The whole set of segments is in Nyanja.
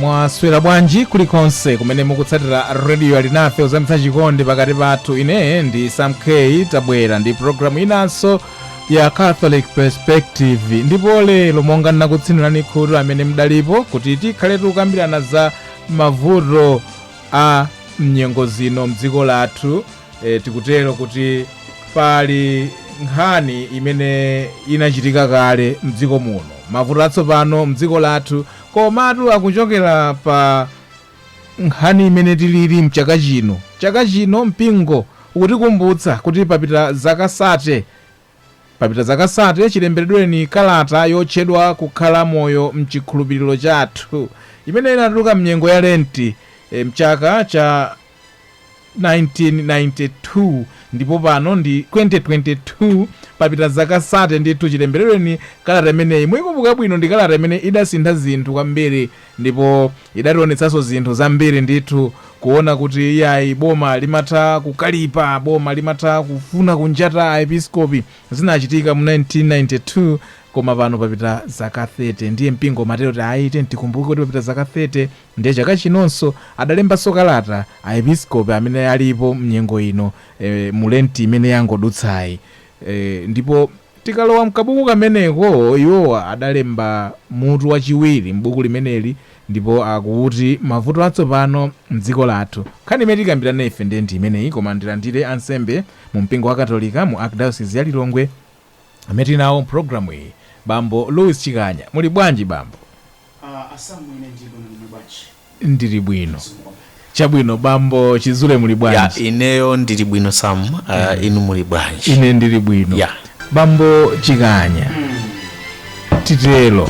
mwaswera bwanji kulikonse kumene mukutsatira rediyo alinafe kuzamitsa chikondi pakati pathu ine ndi sam k tabwera ndi programu inanso ya catholic perspective ndipo lero monga ndinakutsinirani khutu amene mudalipo kuti tikhale tikukambirana za mavuto a mnyengo zino mdziko lathu e, tikutero kuti pali nkhani imene inachitika kale mdziko muno mavuto atsopano mdziko lathu komatu akuchokera pa nkhani imene tilili mchaka chino chaka chino mpingo ukutikumbutsa kuti papita zaka sate Papita zaka sate chilemberedweni kalata yotchedwa Kukhala Moyo m'Chikhulupiriro Chathu, imene inatuluka m'nyengo ya Lenti m'chaka cha 1992, ndipo pano ndi 2022, papita zaka sate ndithu chilemberedweni kalata imeneyi. Muikumbuka bwino, ndi kalata imene idasintha zinthu kwambiri ndipo Idationetsanso zinthu zambiri ndithu kuona kuti iyayi boma limatha kukalipa, boma limatha kufuna kunjata aepiskopi. Zinachitika mu 1992 koma pano papita zaka 30 ndiye mpingo umatero kuti iyayi tikumbuke kuti papita zaka 30 ndiye chaka chinonso adalembanso kalata aepiskopi amene alipo mnyengo ino eh, mu lenti imene yangodutsayi eh, ndipo Tikalowa m'kabuku kameneko, iwowa adalemba mutu wachiwiri m'buku limeneli ndipo akuti Mavuto Atsopano m'Dziko Lathu. Nkhani imene tikambirane ife ndiye ndi imeneyi koma ndilandire ansembe mu mpingo wakatolika mu Archdiocese ya Lilongwe amene tili nawo m'programu iyi, Bambo Louis Chikanya. Muli bwanji, Bambo? Ndili bwino. Chabwino, bambo Chizule muli bwanji? Ya, ineyo ndili bwino Sam, uh, inu muli bwanji? Ine ndili bwino. Ya. Bambo Chikanya. Titero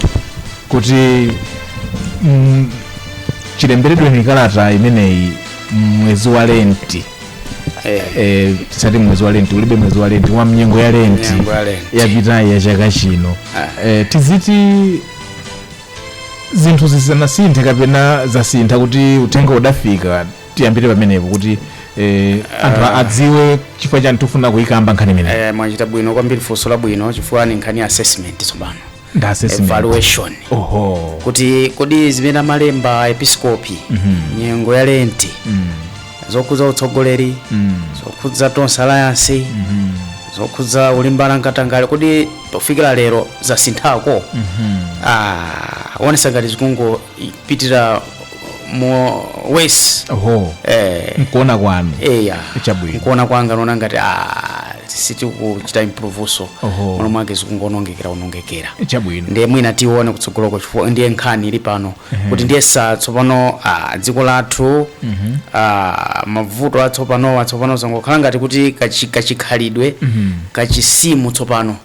kuti mm, chilemberedweni kalata imeneyi mwezi wa lenti Eh, eh, tisati mwezi wa lenti ulibe mwezi wa lenti koma mnyengo ya lenti Mnyengo ya Lenti. yapitayi ya chaka chino Ah. eh, tiziti zinthu sizinasinthe kapena zasintha kuti uthenga udafika tiyambire pamenepo kuti eh, anthu a- adziwe chifukwa chani tifuna kuyikamba nkhani imeneyi Eh, mwachita bwino kwambiri funso labwino chifukwa ni nkhani ya assessment tsopano ndi assessment evaluation oho kuti kodi zimene amalemba aepiskopi nyengo ya lenti zokhudza utsogoleri Mm. zokhudza tonse alliance Mhm. zokhudza kulimbana nkatangale kodi pofika lero zasinthako Mhm. ah, zionetsa ngati zikungopitira mo worse Oho. eh, Mkuona kwanu. eya Chabwino. nkuona kwanga nona ngati ah, sitikuchita improvunso Oho. mmalo mwake zikungonongekera onongekera Chabwino. ndiye mwina tione kutsogoloko chifukwa ndiye nkhani ili pano kuti ndiye tsopano ah, dziko lathu ah, mavuto atsopanowa tsopano zangokhala ngati kuti kachi- kachikhalidwe kachisimu tsopano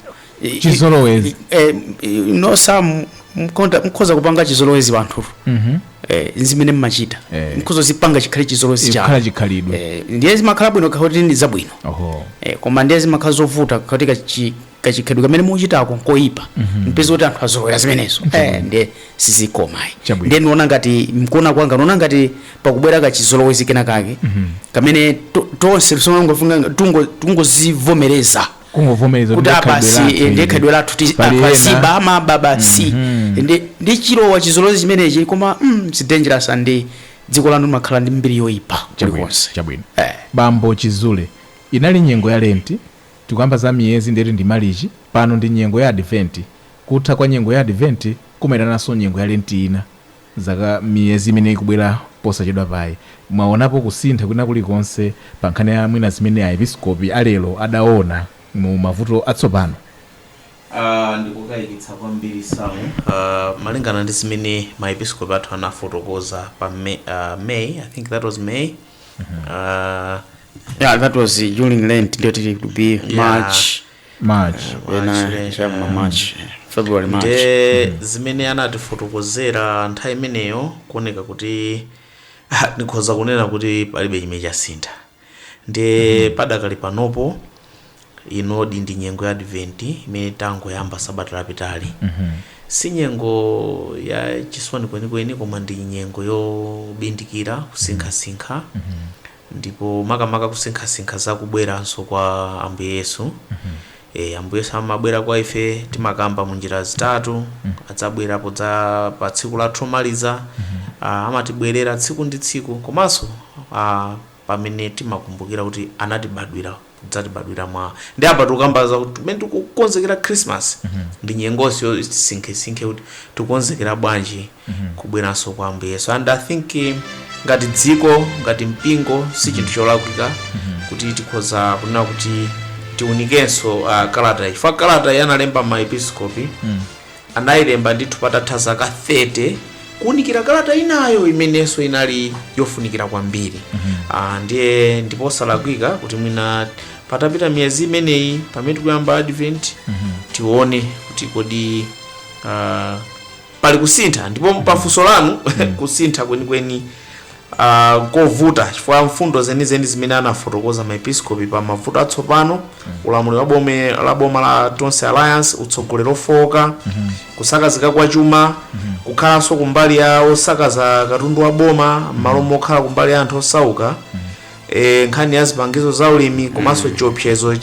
I- i- Chizolowezi. eh, you know some mkonda- mkhoza kupanga chizolowezi wanthu eh, zimene mmachita Eh. mkhoza kuzipanga chikhale chizolowezi chikhala chanu chikhalidwe eh, ndiye zimakhala bwino ngati ndi zabwino oho eh, koma ndiye zimakhala zovuta ngati kachi, kachikhalidwe kamene muchitako nkoyipa mpeza kuti anthu azolowera zimenezo Eh, ndiye sizikomayi Chabwino. ndiye ndiona ngati mkuona kwanga ndiona ngati pakubwera kachizolowezi kena kake kamene to- tonse tongofuna tungozivomereza kungovomereza kuti ah basi ndiye khalidwe lathu ti- Pali anthu ena. aziba amaba basi Ndi- ndi chilowa chizolowezi chimenechi koma mm, it's dangerous and dziko lanu limakhala ndi mbiri yoyipa kulikonse chabwino Eh. bambo chizule inali nyengo ya lenti Tikukamba za miyezi ndiye kuti ndi Malichi, pano ndi nyengo ya Adventi. Kutha kwa nyengo ya Adventi kumaitananso nyengo ya Lenti ina, zaka, miyezi imene ikubwera posachedwapa. Mwaonapo kusintha kwina kulikonse pa nkhani ya mwina zimene a Episkopi a lero adaona mu mavuto atsopano? A. Ndi kokaikitsa kwambiri, Sam. A. Malingana ndi zimene ma Episkopi athu anafotokoza pa May, I think that was May. Ah, yeah that was uh, during lent ndiye tili to be Yeah. march march ena March, eh, cha ma march february march nde zimene anatifotokozera nthawi imeneyo kuoneka kuti ah, ndikhoza kunena kuti palibe chimene chasintha nde padakali panopo Inoyi ndi nyengo ya Adventi imene tangoyamba sabata lapitali. Si nyengo ya chisoni kwenikweni koma ndi nyengo yobindikira, kusinkhasinkha ndipo makamaka kusinkhasinkha za kubweranso kwa Ambuye Yesu. Eya, Ambuye Yesu amabwera kwa ife timakamba mu njira zitatu, adzabwera poyamba pa tsiku lathu lomaliza, a, amatibwerera tsiku ndi tsiku komanso a, pamene timakumbukira kuti anatibadwira kudzatibadwira mwa ndi apa tikukamba za kuti kumene tikukonzekera christmas ndi nyengonso yoti tisinkhesinkhe kuti tikukonzekera bwanji kubweranso kwa ambuye yesu and i think eh, ngati dziko ngati mpingo si chinthu cholakwika kuti tikhoza kunena kuti tiunikenso uh, kalata chifukwa kalata ya analemba maepiskopi Anailemba ndithu patatha zaka 30 kuunikira kalata inayo imenenso inali yofunikira kwambiri Ah, ndiye ndipo osalakwika kuti mwina patapita miyezi imeneyi pamene tikuyamba advent tione kuti kodi ah, pali kusintha ndipo pafunso lanu kusintha kwenikweni a N'kovuta chifukwa mfundo zenizeni zimene anafotokoza maepiskopi pa mavuto atsopano, ulamuliro wa boma la boma la Tonse Alliance, utsogoleri ofooka, kusakazika kwa chuma, kukhalanso kumbali ya osakaza katundu wa boma m'malo mokhala kumbali ya anthu osauka, eh, nkhani ya zipangizo za ulimi komanso chiopsezo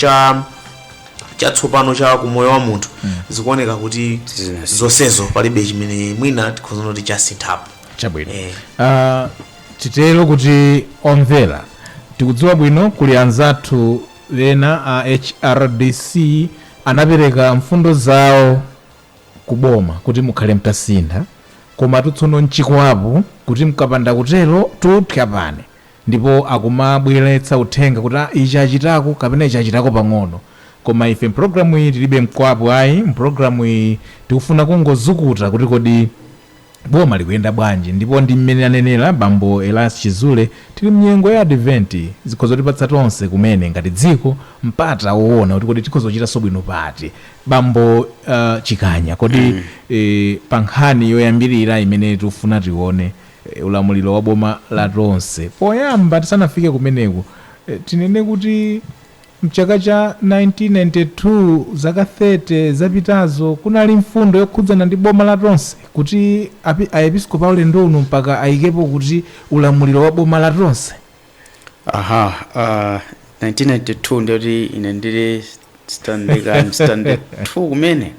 chatsopano cha kumoyo wa munthu zikuoneka kuti zonsezo palibe chimene mwina tikhoza kunena kuti chasinthapo chabwino Eh. Ah, titero kuti omvera tikudziwa bwino kuli anzathu ena a hrdc anapereka mfundo zawo ku boma kuti mukhale mtasintha koma tu tsono nchikwapu kuti mkapanda kuterotu psapano ndipo akumabweretsa uthenga kuti "Ah, ichi achitako kapena ichi achitako pang'ono koma ife mpulogalamu iyi tilibe mkwapo ayi mpulogalamu iyi tikufuna kungozukuta kuti kodi Boma likuyenda bwanji ndipo ndi mmene anenera bambo Elias Chizule tili mnyengo ya Advent zikhoza kutipatsa tonse kumene ngati dziko mpata woona kuti kodi tikhoza kuchitanso bwino pati. Bambo Chikanya kodi pa nkhani yoyambirira imene tikufuna tione ulamuliro wa boma la tonse poyamba tisanafike kumeneku tinene kuti. M'chaka cha 1992, zaka 30 zapitazo, kunali mfundo yokhudzana ndi boma la tonse kuti Aepiskopi paulendo uno mpaka ayikepo kuti ulamuliro wa boma la tonse. Aha, uh, 1992 ndiyoti ine ndili standard, I'm standard 2 kumene.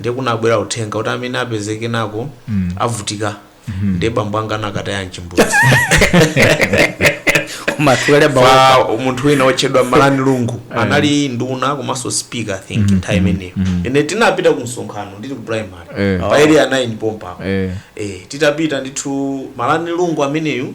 ndiye kunabwera uthenga kuti amene apezeke nako avutika ndiye bambo anga anakataya mchimbudzi munthu wina otchedwa malani lungu anali nduna komanso speaker i think nthawi imeneyo ine tinapita ku msonkhano ndili ku primary Eh. pa area 9 pompa Eh. eh, titapita ndithu malani lungu ameneyu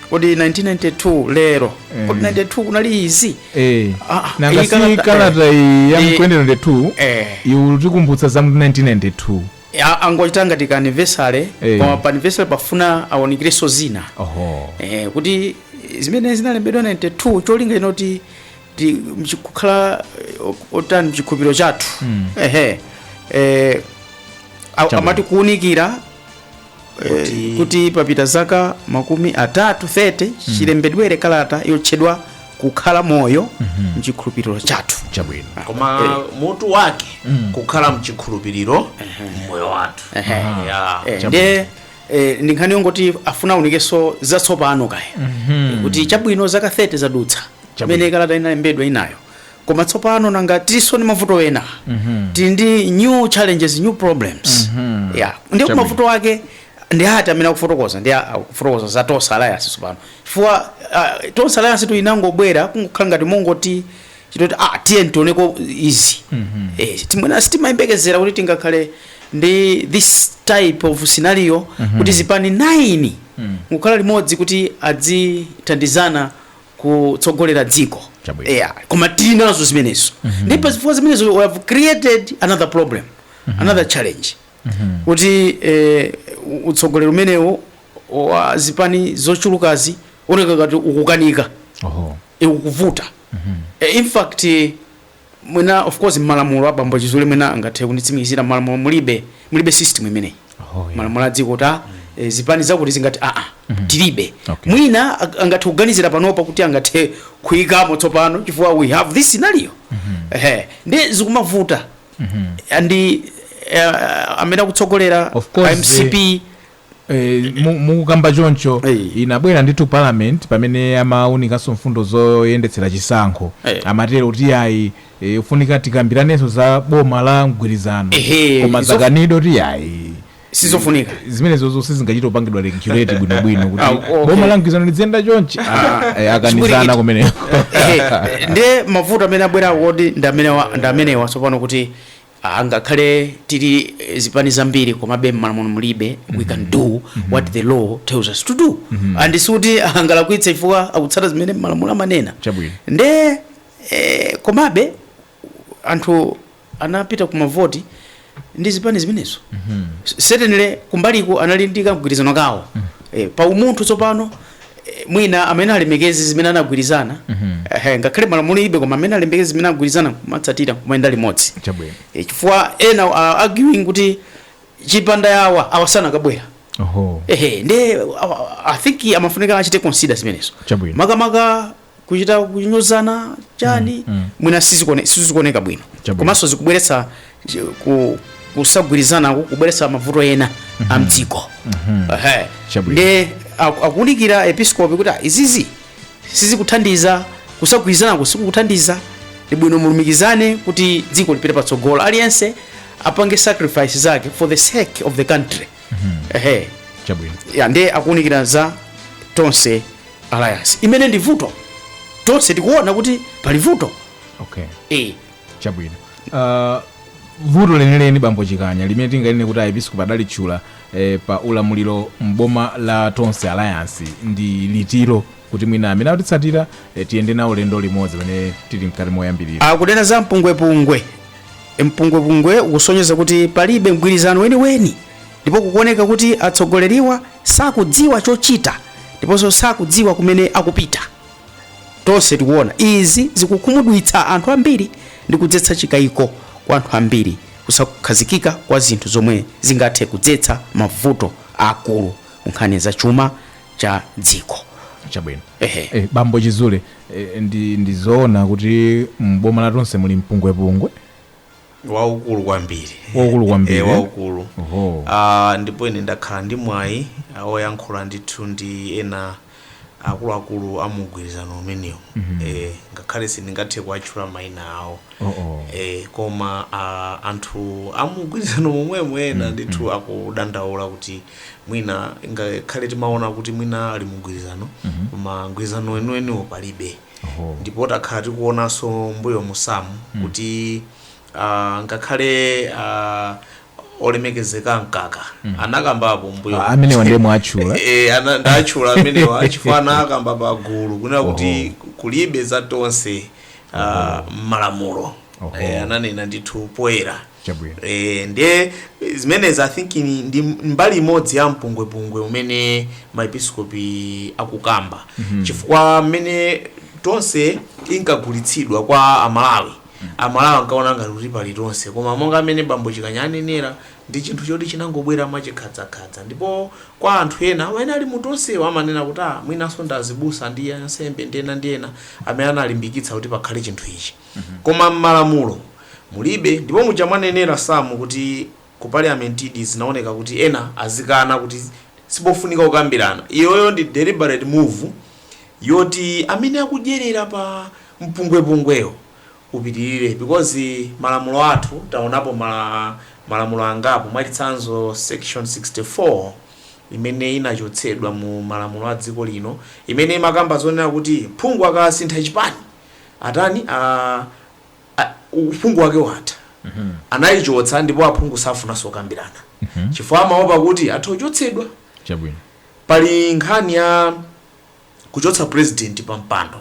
kodi 1992 lero kodi 92 kunali izi Eh, Ah, ah, nanga iyi si kalata- kalata iyi ya Eh. 2022 Eh. ikutikumbutsa za mu 1992 A- angochita ngati ka anniversary Eh. koma pa anniversary pafuna aunikirenso zina oho eh, kuti zimene zinalembedwa 92 cholinga chinali choti ti- mchi- kukhala eh, o- otani mchikhulupiriro chathu ehe eh, a- Chabwino. amati kuunikira Kuti- kuti papita zaka makumi atatu 30 chilembedwere kalata yotchedwa kukhala moyo mchikhulupiriro chathu chabwino koma mutu wake kukhala mchikhulupiriro mmoyo wathu Ehe. Ya. Eh, ndiye eh, ndi nkhani yongoti afuna aunikenso zatsopano kaye kuti chabwino zaka 30 zadutsa Chabwino. imene kalata inalembedwa inayo koma tsopano nanga tinso ndi mavuto ena mm -hmm. tili ndi new challenges new problems mm -hmm. yeah. ndiye mavuto ake ndi ati amene akufotokoza ndi akufotokoza za tonse alliance tsopano chifukwa uh, tonse alliance tu inangobwera kungokhala ngati mongoti chitoti ah, tiyeni tioneko izi mm -hmm. eh, ti mwina sitimayembekezera kuti tingakhale ndi this type of scenario mm -hmm. kuti zipani 9 mm -hmm. kukhala limodzi kuti adzithandizana kutsogolera dziko Chabwino. yeah. koma tili nazo zimenezo ndipo zifukwa zimenezo we have created another problem another challenge kuti eh, u- utsogoleri umenewo wa zipani zochulukazi oneka ngati ukukanika Oho. ukuvuta Eh, in fact eh, Mwina of course mmalamulo a bambo Chizule mwina angathe kunditsimikizira mmalamulo mulibe mulibe system imeneyi. Oh, yeah. Malamulo a dziko kuti ah, eh, zipani zakuti zingati a a tilibe. Okay. Mwina ang- angathe kuganizira panopa kuti angathe kuyikamo tsopano chifukwa we have this scenario. Ehe. Nde zikumavuta. Andi eh, amene akutsogolera Of course, MCP Eh, mu- mukukamba choncho Eh. inabwera ndithu parliament pamene amaunikanso mfundo zoyendetsera chisankho Eh. amatero kuti ayi eh, ufunika tikambiranenso za boma la mgwirizano Ehe, koma izo- zakanidwa ti ayi sizofunika zimenezozo sizingachita kupangidwa regulate bwinobwino kuti Ah, okay. boma la mgwirizano lidziyenda chonchi Ah, eh, akanitsana kumeneko Ehe, ndiye mavuto amene abwera kodi ndi amene wa- ndi amenewa tsopano kuti angakhale tili zipani zambiri komabe mmalamulo mulibe we can do what the law tells us to do and sikuti angalakwitse chifukwa akutsata zimene malamulo amanena Chabwino. nde eh, komabe anthu anapita ku mavoti ndi zipani zimenezo certainly kumbaliko anali ndi kagwirizano kawo eh, pa umunthu tsopano Eh, mwina amenya alemekeze zimene anagwirizana ehe, ngakhale malamulo mulibe koma amenya alemekeze zimene anagwirizana kumatsatira kumayenda limodzi chabwino Eh, chifukwa ena uh, arguing kuti chipanda awa awa sanakabwera oho ehe nde awa- i think amafunika achite consider zimenezo Chabwino. makamaka kuchita kunyozana chani Mm, mm. mwina sizikone- sizikuoneka bwino Chabwino. komanso zikubweretsa chi- ku- kusagwirizana ku- kubweretsa mavuto ena a mdziko Ehe. Chabwino. ndiye aku- akuunikira aepiskopi kuti "Ah, izizi sizikuthandiza kusagwirizanako sikukuthandiza ndi bwino mulumikizane kuti dziko lipite patsogolo aliyense apange sacrifice zake for the sake of the country Ehe. chabwino ya ndiye akuunikira za tonse alliance imene ndi vuto tonse tikuona kuti pali vuto okay e chabwino uh, vuto lenileni bambo chikanya limene tinganene kuti aepiskopi adalitchula eh, pa ulamuliro mboma la tonse alliance ndi liti lo kuti mwina amene akutitsatira eh, tiyende nawo ulendo limodzi pamene tili mkati moyambirira akunena za mpungwepungwe mpungwepungwe ukusonyeza kuti palibe mgwirizano weniweni Ndipo kukuoneka kuti atsogoleriwa sakudziwa chochita ndiponso sakudziwa kumene akupita. Tonse tikuona izi zikukhumudwitsa anthu ambiri ndi kudzetsa chikaiko kwa anthu ambiri, kusakhazikika kwa zinthu zomwe zingathe kudzetsa mavuto aakulu ku nkhani za chuma cha dziko. Chabwino. Ehe. Eh, Bambo Chizule, eh, ndi, ndi zoona kuti m'boma la Tonse muli mpungwepungwe? waukulu kwambiri Waukulu kwambiri, Eh, eh? waukulu Oho. Ah, ndipo ine ndakhala ndi mwayi ah, woyankhula ndithu ndi ena akuluakulu a mugwirizano umenewo eh, ngakhale sindingathe kuwatchula mayina awo Oh, oh. eh, koma ah, anthu amugwirizano momwemo ena ndithu akudandaula kuti mwina ngakhale timaona kuti mwina ali mugwirizano koma mgwirizano weniweniwo palibe Oho. ndipo takhala tikuonanso mbuyo mu Sam kuti ah, ngakhale ah, olemekezeka mkaka anakambapo mbuyo Ah, amenewa ndiye mwatchula. Eh, ana- ndatchula amenewa chifukwa anakamba pa gulu kunena kuti kulibe za tonse ah, m'malamulo Oho. Eh, ananena ndithu poyera Chabwino. Eh, ndiye zimenezi i think ni- ndi mbali imodzi ya mpungwepungwe umene maepiskopi akukamba chifukwa mmene tonse inkagulitsidwa kwa amalawi amalawi ankaona ngati kuti pali tonse koma monga mmene bambo chikanya anenera ndi chinthu choti chinangobwera mwachikhadzakadza ndipo kwa anthu ena amene ali mu tonsewo amanena kuti ah mwinanso ndi azibusa ndi ansembe ndi ena ndi ena amene analimbikitsa kuti pakhale chinthu ichi koma mmalamulo Mulibe ndipo muja mwanenera Sam kuti ku parliament-di zinaoneka kuti ena azikana kuti sipofunika kukambirana iyoyo ndi deliberate move yoti amene akudyerera pa mpungwepungwewo upitirire because malamulo athu taonapo ma malamulo angapo mwachitsanzo section 64 imene inachotsedwa mu malamulo a dziko lino imene imakamba zonena kuti phungu akasintha chipani atani a a, uphungu wake watha. Anaichotsa ndipo aphungu safunanso kukambirana chifukwa amaopa kuti atha kuchotsedwa. Chabwino. Pali nkhani ya kuchotsa president pa mpando,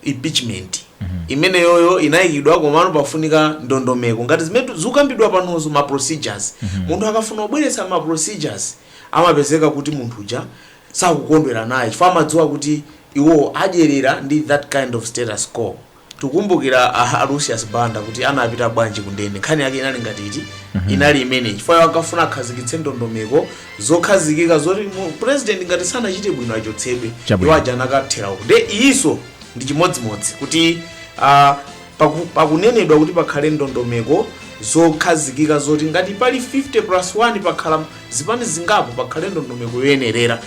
impeachment. Imeneyoyo inaikidwa komano pafunika ndondomeko ngati zimene tu- zikukambidwa panozo ma procedures. Munthu akafuna kubweretsa ma procedures amapezeka kuti munthu uja sakukondwera naye chifukwa amadziwa kuti iwowo adyerera ndi that kind of status quo. Tikukumbukira a a Lucius Banda kuti anapita bwanji kundende. Nkhani yake inali ngati iti? Inali imeneyi. Chifukwa iwo ankafuna akhazikitse ndondomeko zokhazikika zoti mu- president ngati sanachite bwino achotsedwe. Chabwino. Iwo aja anakathera uko. Nde iyinso ndi chimodzimodzi kuti ah, paku- pakunenedwa kuti pakhale ndondomeko zokhazikika zoti ngati pali 50 plus 1 pakhala zipani zingapo pakhale ndondomeko yoyenerera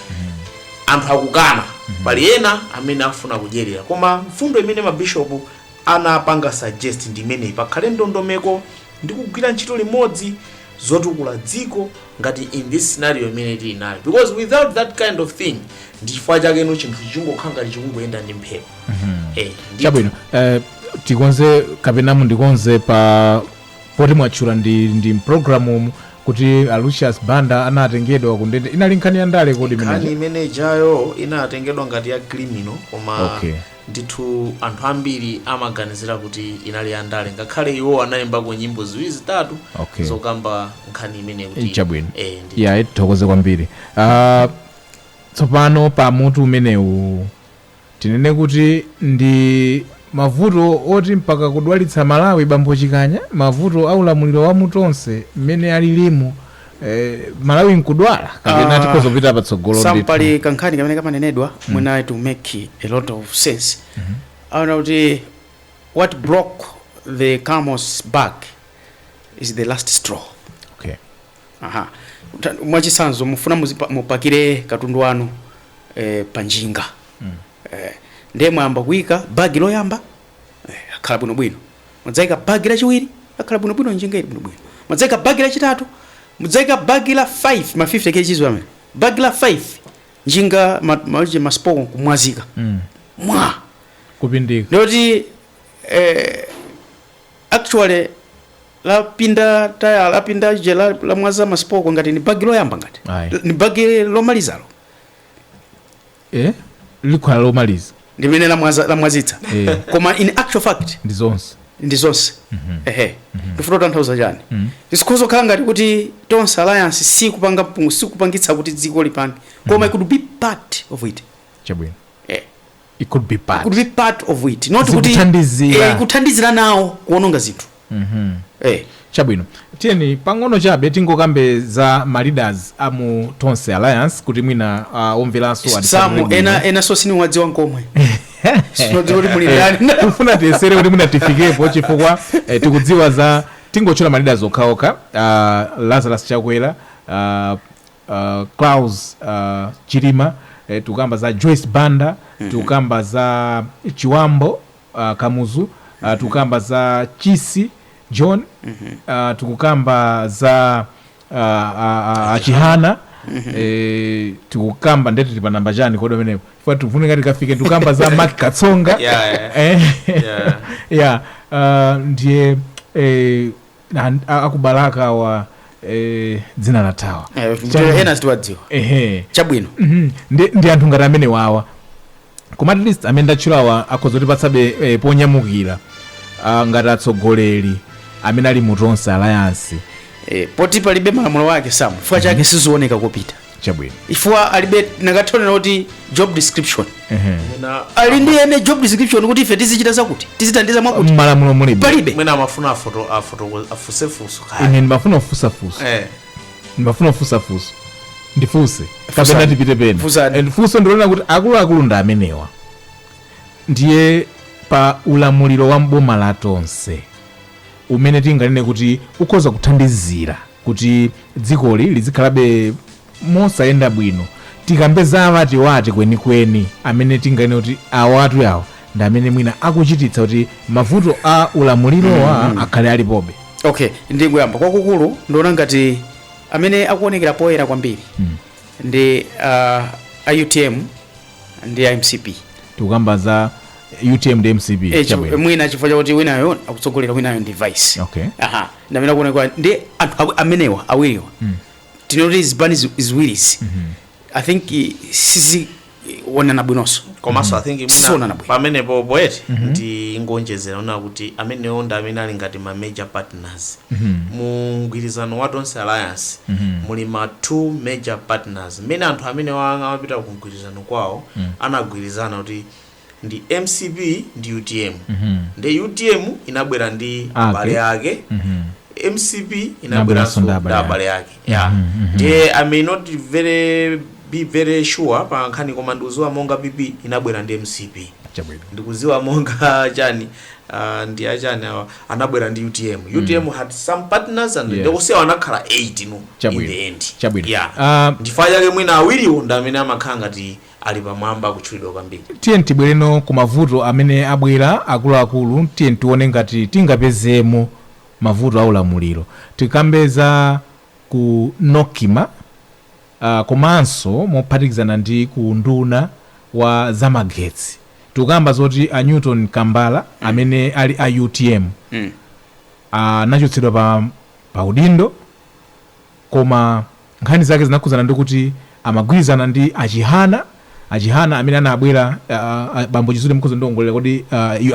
anthu akukana pali ena amene afuna kudyerera koma mfundo imene mabishopu anapanga suggest ndi imeneyi pakhale ndondomeko ndi kugwira ntchito limodzi zotukula dziko ngati in this scenario imene tili nayo because without that kind of thing ndi chifukwa chake no chinthu chingokhala ngati chikungoyenda ndi mphepo Eh, ndi- chabwino eh, tikonze kapena mundikonze pa poti mwatchula ndi ndi mpulogalamu mu kuti a lucius banda anatengedwa kundende inali nkhani ya ndale kodi nkhani imeneyi imene ijayo inatengedwa ngati ya criminal koma Okay. ndithu anthu ambiri amaganizira kuti inali ya ndale ngakhale iwo anaimbako nyimbo ziwiri zitatu Okay. zokamba nkhani imene kuti chabwino eh, ndi- ya tithokoze kwambiri Ah, tsopano pa mutu umenewu Tinene kuti ndi mavuto oti mpaka kudwalitsa Malawi bambo Chikanya? Mavuto a ulamuliro wa mu Tonse mmene alilimu Malawi nkudwala? Kapena tikhoza kupita patsogolo ndithu? Sam, pali kankhani kamene kamanenedwa mwina it will make a lot of sense. Amanena kuti what broke the camel's back is the last straw. Okay. Aha. Ta- Mwachitsanzo mufuna muzipa- mupakire katundu wanu eh, pa njinga. Eh, ndiye mwayamba kuika bagi loyamba eh, akhala bwinobwino. Mudzaika bagi lachiwiri akhala bwinobwino njinga ili bwinobwino. Mudzaika bagi lachitatu, mudzaika bagi la 5 ma 50 kg amene. Bagi la 5 njinga ma, ma, masipoko kumwazika. Mm. Mwa kupindika ndikuti eh, actually lapinda taya lapinda, aje, la, lamwaza masipoko ngati ni bagi loyamba ngati Ayi. ni bagi lomalizalo eh? likhala lomaliza ndimene lamwaza- lamwazitsa Eh. koma in actual fact ndi zonse ndi zonse ehe ndifuna kutanthauza chani zikhoza kukhala ngati kuti tonse alliance sikupanga mpungu sikupangitsa kuti dziko lipange koma it could be part of it chabwino Eh. it could be part, it could be part of it not kuti eh, kuthandizira nawo kuononga zinthu mm -hmm. eh. chabwino tiyeni pang'ono chabe tingokambe za maleaders a mu tonse alliance kuti mwina uh, omveranso samu ena, ena sakuwadziwa nkomwe ndifuna tiyesere kuti mwina tifikepo chifukwa eh, tikudziwa zoti tingotchula maleaders okhaokha uh, lazarus chakwera uh, Klaus chilima tikukamba za Joyce Banda tikukamba za Chiwambo kamuzu tikukamba za Chisi John tikukamba za a chihana tikukamba nde tili pa namba chani kodi pamenepo chifukwa tikufunika tikafike tikukamba za Mark Katsonga Yeah, yeah. Eh, Yeah. yeah uh, ndiye eh, Na- a- akubalalika awa eh, dzina lathawa Eh, Chabwino. ndiyo ena sitiwadziwa ehe chabwino Mhm. ndi ndi anthu ngati amenewawa koma at least amene ndatchulawa akhoza kutipatsabe eh, ponyamukira ah, ngati atsogoleri amene ali mu tonse alliance Eh, poti palibe malamulo ake samu chifukwa chake sizioneka kopita chabwino chifukwa alibe ndikaonera kuti job description mwina ali ndi eni job description kuti ife tizichita zakuti tizithandiza mwakuti mmalamulo mulibe palibe mwina amafuna afoto afoto afunse funso kaya ine ndimafuna kufunsa funso eh ndimafuna kufunsa funso ndifunse kapena tipite pena Funsani. And funso ndi lonena kuti akuluakulu ndi amenewa ndiye pa ulamuliro wa mboma la tonse umene tinganene kuti ukhoza kuthandizira kuti dzikoli lizikhalabe mosayenda bwino tikambe za awatiwati kwenikweni amene tinganene kuti awatu awa ndi amene mwina akuchititsa kuti mavuto a ulamulirowa akhale alipobe okay ndingoyamba kwakukulu ndiona ngati amene akuonekera poyera kwambiri ndi uh, a utm ndi a mcp tikukamba za utm ndi mcp Eh, chi- chabwino mwina chifukwa chakuti winayo akutsogolera winayo ndi vice okay aha ndamene akuoneka ndi anthu awi- amenewa awiriwa tingoti zipani zi- ziwirizi i think eh, sizikuonana bwinonso komanso i think Sizionana mwina bwino. pamenepo poeti ndingoonjezera kunena kuti amenewo ndi amene ali ngati ma major partners mu mgwirizano wa tonse alliance muli ma two major partners mmene anthu amene wa- amapita ku mgwirizano kwawo anagwirizana kuti ndi mcp ndi utm ndi utm inabwera ndi abale ake mcp inabweranso ndi abale ake yeah ndiye i may not be very sure pa nkhani koma ndikuziwa monga pp inabwera ndi mcp chabwino ndikuziwa monga chani ah, ndi achani awa anabwera ndi utm utm had some partners and Yes. ndikuziwa anakhala 8 no in Chabwino. the end Chabwino. yeah Ah, ndifukwa chake mwina awiriwo ndi amene amakhala ngati ali pamwamba kutchulidwa kwambiri. Tiyeni tibwereno ku mavuto amene abwera akuluakulu. Tiyeni tione ngati tingapezemo mavuto a ulamuliro. Tikambe za ku Nocma uh, komanso mophatikizana ndi ku unduna wa zamagetsi. Tikukamba zoti a Newton Kambala mm. amene ali a UTM mm. anachotsedwa pa, pa udindo koma Nkhani zake zinakhudzana ndi kuti amagwirizana ndi a Chihana, a Chihana amene anabwera, a bambo Chizuma mukhoza kundiongolera kodi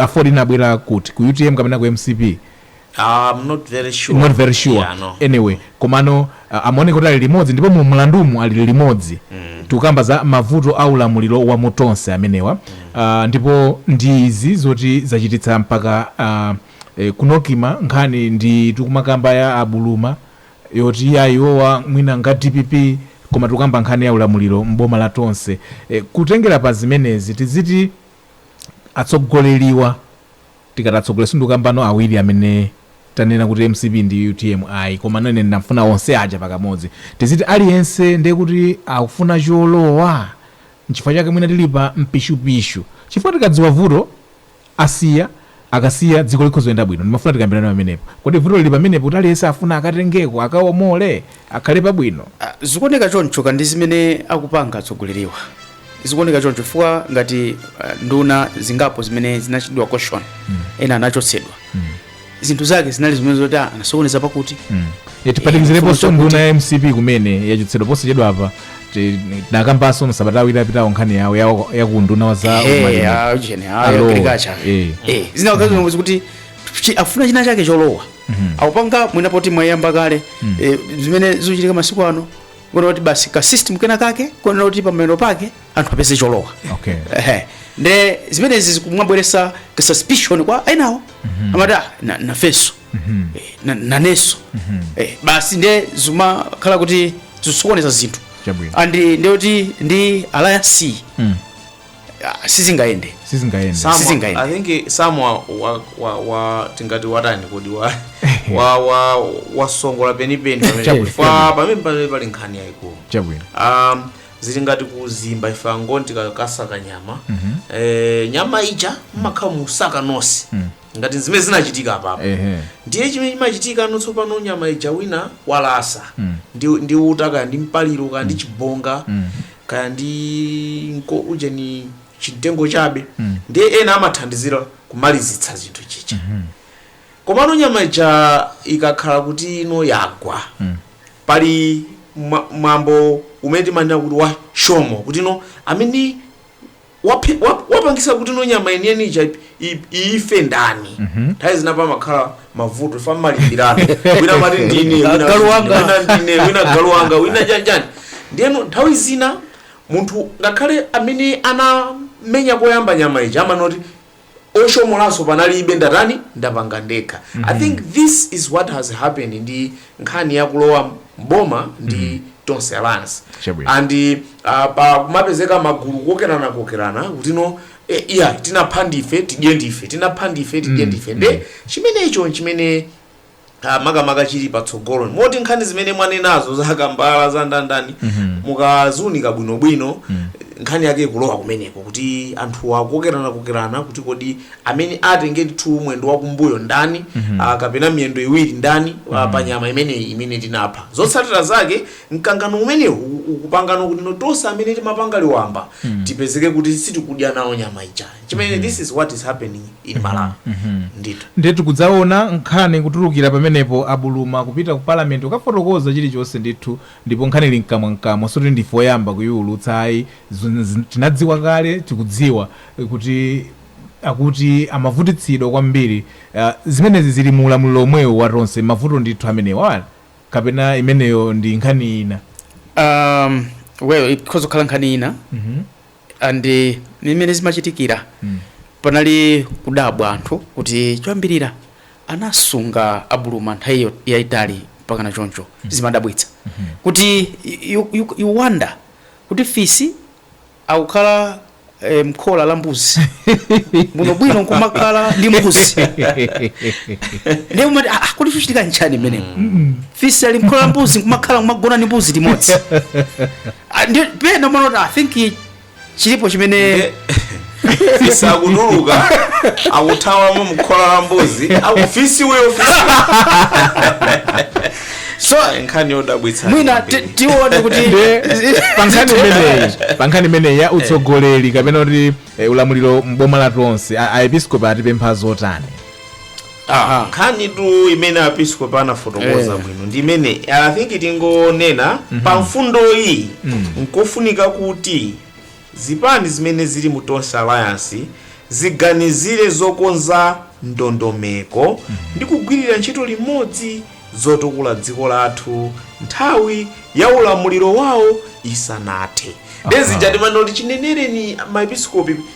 Aford inabwera kuti ku utm kapena ku mcp? I'm not very sure, not very sure yeah, no. anyway komano amaoneka kuti ali limodzi ndipo mu mlandumu ali limodzi mm. tikukamba za mavuto a ulamuliro wa mu Tonse amenewa mm. uh, ndipo ndi izi zoti zachititsa mpaka uh, eh, ku Nocma nkhani ndi tikumakamba ya a Buluma yoti iyaa iwowa mwina nga a dpp koma tikukamba nkhani ya ulamuliro m'boma la Tonse kutengera pa zimenezi tiziti atsogoleriwa tikati atsogoleri sindikukambano awiri amene tanena kuti mcp ndi utm ayi komano ine ndimafuna onse aja pakamodzi tiziti aliyense ndiye kuti akufuna cholowa nchifukwa chake mwina tili pa mpishupishu chifukwa tikadziwa vuto Asiya, akasiya dziko likhoza kuyenda bwino. Ndimafuna tikambirane pamenepo. Kodi vuto lili pamenepo kuti aliyense afuna akatengeko, akawomole, akhale pabwino? Zikuoneka chonchotu ndi zimene akupanga atsogoleriwa. Zikuoneka choncho chifukwa ngati nduna zingapo zimene zinapatsidwa caution, ena anachotsedwa. zinthu zake zinali zimene zoti ah, anasokoneza pakuti tiphatikizireponso Eh, nduna ya mcp kumene yachotsedwa posachedwa apa tinakambanso masabata awiri apitawo nkhani yawo yawo- yakunduna wa za Eh, za ulimi. ah, ujeni, ah, a Lowe. agriculture. Eh. Eh, zina wakati zomwezi kuti chi- afuna china chake cholowa akupanga mwina poti mwayamba kale eh, zimene zikuchitika masiku ano kuona kuti basi ka system kena kake kuonera kuti pamapeto pake anthu apeze cholowa Okay. Ehe. nde zimenezi zikumabweresa ka suspicion kwa enawo amati "Ah, na- nafenso Eh, na- nanenso Eh, basi nde zimakhala kuti zisokoneza zinthu Chabwino. and nde kuti ndi alliance Ah, sizingayende sizingayende Sam- Sizingayende. I think Sam wa, wa, wa, wa tingati watani kodi wa wa wa wasongola penipeni pamene Chabwino. chifukwa pamene pamene pali nkhani yayikulu chabwino um, zili ngati kuzimba ife angoni tikakasaka nyama eh, nyama ija mmakhala mukusaka nonse ngati zimene zinachitika apapa ehe ndiye chimene chimachitika ano tsopano nyama ija wina walasa ndi, ndi uta kaya ndi mpaliro kaya ndi chibonga kaya ndi nko ujeni chimtengo chabe ndiye ena amathandizira kumalizitsa zinthu chicha komano nyama ija ikakhala kuti ino yagwa pali mwa- mwambo umene timanena kuti wa shomo kuti ino amene waphe, wap, wapangisa kuti no nyama yeniyeni ija ip- ip- ife ndani nthawi zina pamakhala mavuto ifa mmalimbirana wina amati ndine wina- Galu wanga. wina ndine wina galu wanga wina chanjani ndiyeno nthawi zina munthu ngakhale amene anamenya koyamba nyama ija amanoti oshomolanso panalibe ndatani ndapanga ndekha mm -hmm. i think this is what has happened ndi nkhani yakulowa mboma ndi mm -hmm. tonse alliance Chabwino. and uh, pa kumapezeka magulu kokerana kokerana kutino eh, iya tinapha ndife tidye ndife tinapha ndife tidye ndife nde chimenecho nchimene ah, makamaka chili patsogolo moti nkhani zimene mwanenazo za kambala za ndandani mukaziunika bwinobwino nkhani yake ikulowa kumeneko kuti anthu akukokerana kokerana kuti kodi amene atenge ndithu mwendo wakumbuyo ndani ah, kapena miyendo iwiri ndani ah, pa nyama imeneyi imene tinapha zotsatira zake mkangano umenewu u- ukupangano kuti no tonse amene timapanga liwamba tipezeke kuti sitikudya nawo nyama ijayo chimene this is what is happening in mhm, malawi mhm. ndithu ndiye tikudzaona nkhani kutulukira pamenepo abuluma kupita ku parliament kukafotokoza chilichonse ndithu ndipo nkhani ili mkamwa mkamwa sikuti ndife oyamba kuyiwulutsa ayi tinadziwa kale tikudziwa eh, kuti akuti amavutitsidwa kwambiri uh, zimenezi zili mu ulamuliro omwewo wa tonse mavuto ndithu amenewa kapena imeneyo ndi nkhani ina um, well ikhoza kukhala nkhani ina mm -hmm. and mimene zimachitikira panali kudabwa anthu kuti choyambirira anasunga abuluma nthawi yo- yayitali mpakana choncho zimadabwitsa kuti you, you, you wonder kuti fisi akukhala eh, mkhola la mbuzi bwinobwino nkumakhala ndi mbuzi ndiye umati "Ah, ah, kodi chochitika nchani mmenemo fisi ali mkhola la mbuzi nkumakhala kumagona ndi mbuzi limodzi Ah, ndi- pena timanena kuti i think chilipo chimene fisi akutuluka akuthawamo mkhola la mbuzi akuti fisi uyo fisi so nkhani yodabwitsa mwina ti- kwambiri. tione kuti pankhani imeneyi ya utsogoleri kapena kuti eh, ulamuliro mboma la tonse a- aepiskopi atipempha zotani Aha, nkhani tu imene aepiskopi anafotokoza Eh. bwino ndi imene think tingonena pa mfundo iyi nkofunika kuti zipani zimene zili mu tonse alliance ziganizire zokonza ndondomeko ndi kugwirira ntchito limodzi zotukula dziko lathu nthawi ya ulamuliro wawo isanathe paja timanena kuti chinenereni maepiskopi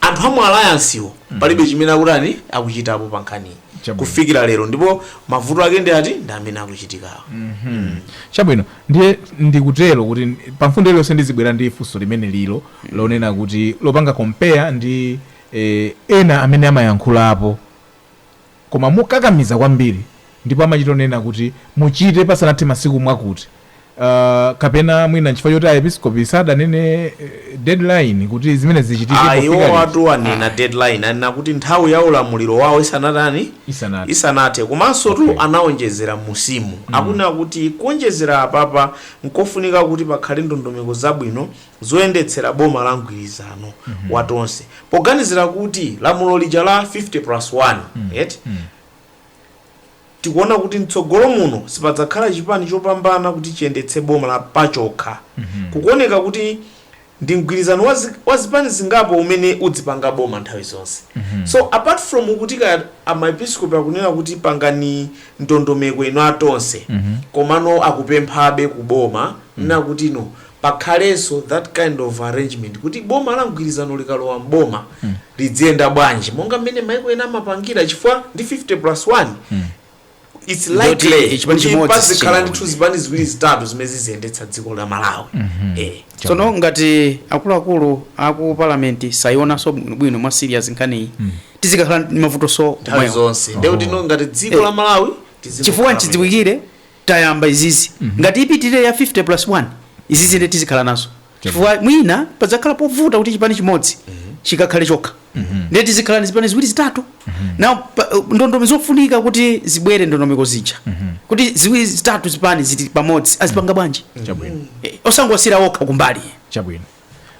anthu amu alliance wo palibe chimene akutani akuchitapo pa nkhaniyi Chabwino. kufikira lero ndipo mavuto ake ndi ati ndi amene akuchitikawo chabwino ndiye ndikutero kuti pa mfundo iliyonse ndizibwera ndi funso limene lilo lonena kuti lopanga compare ndi eh, ena amene amayankhulapo Koma mokakamiza kwambiri, ndipo amachita onena kuti muchite pasanathe masiku mwakuti, uh, kapena mwina nchifukwa choti aepiskopi sadanene deadline kuti zimenezi zichitike Ah, pofika iwo liti. watu anena Ah, deadline anena kuti nthawi ya ulamuliro wawo isanatani isanathe. isanathe komanso tu Okay. anawonjezera musimu akunena kuti kuwonjezera apapa nkofunika kuti pakhale ndondomeko zabwino zoyendetsera boma la mgwirizano wa Tonse poganizira kuti lamulo lija la 50 plus 1 eti tikuona kuti mtsogolo muno sipadzakhala chipani chopambana kuti chiyendetse boma la pachokha kukuoneka kuti ndi mgwirizano wa zi- wa zipani zingapo umene udzipanga boma nthawi zonse so apart from kuti maepiskopi akunena kuti pangani ndondomeko inu a Tonse komano akupemphabe kuboma nakuti no pakhalenso that kind of arrangement kuti boma la mgwirizano likalowa m'boma lidziyenda bwanji monga mmene maiko ena amapangira chifukwa ndi 50 plus 1 its Ndoti likely chipani kuti chimodzi pazikhala sichingawine. ndithu zipani ziwiri zitatu zimene ziziyendetsa dziko la malawi Eh. tsono ngati akuluakulu aku palamenti sayionanso bwinobwino mwa serious nkhaniyi tizikakhala ndi mavuto so nthawi omwewo. zonse ndekuti no ngati dziko la malawi tizingokhala chifukwa bwino. nchidziwikire tayamba izizi mm -hmm. ngati ipitirire ya 50 plus 1 izizi nde tizikhala nazo chifukwa mwina padzakhala povuta kuti chipani chimodzi mm -hmm. chikakhale chokha mm -hmm. nde tizikhala ndi zipani ziwiri zitatu mm -hmm. na uh, ndondomeko zofunika kuti zibwere ndondomeko zija mm -hmm. kuti ziwiri zitatu zipani zili pamodzi azipanga bwanji mm -hmm. osangowasiyira okha kumbali chabwino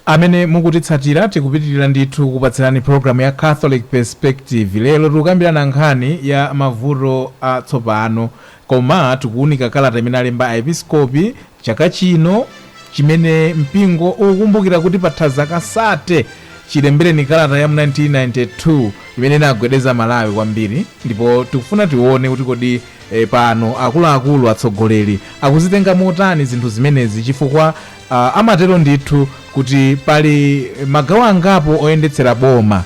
Amene mukutitsatira, tikupitilira ndithu kukupatsirani program ya Catholic Perspective. Lero tikukambirana nkhani ya mavuto a tsopano, koma tikuunika kalata imene alemba a episkopi chaka chino chimene mpingo ukukumbukira kuti patha zaka 30 chilembereni kalata ya mu 1992 imene inagwedeza Malawi kwambiri, ndipo tikufuna tione kuti kodi pano akuluakulu, atsogoleri akuzitenga motani zinthu zimenezi chifukwa Amatero ndithu kuti pali magawo angapo oyendetsera boma.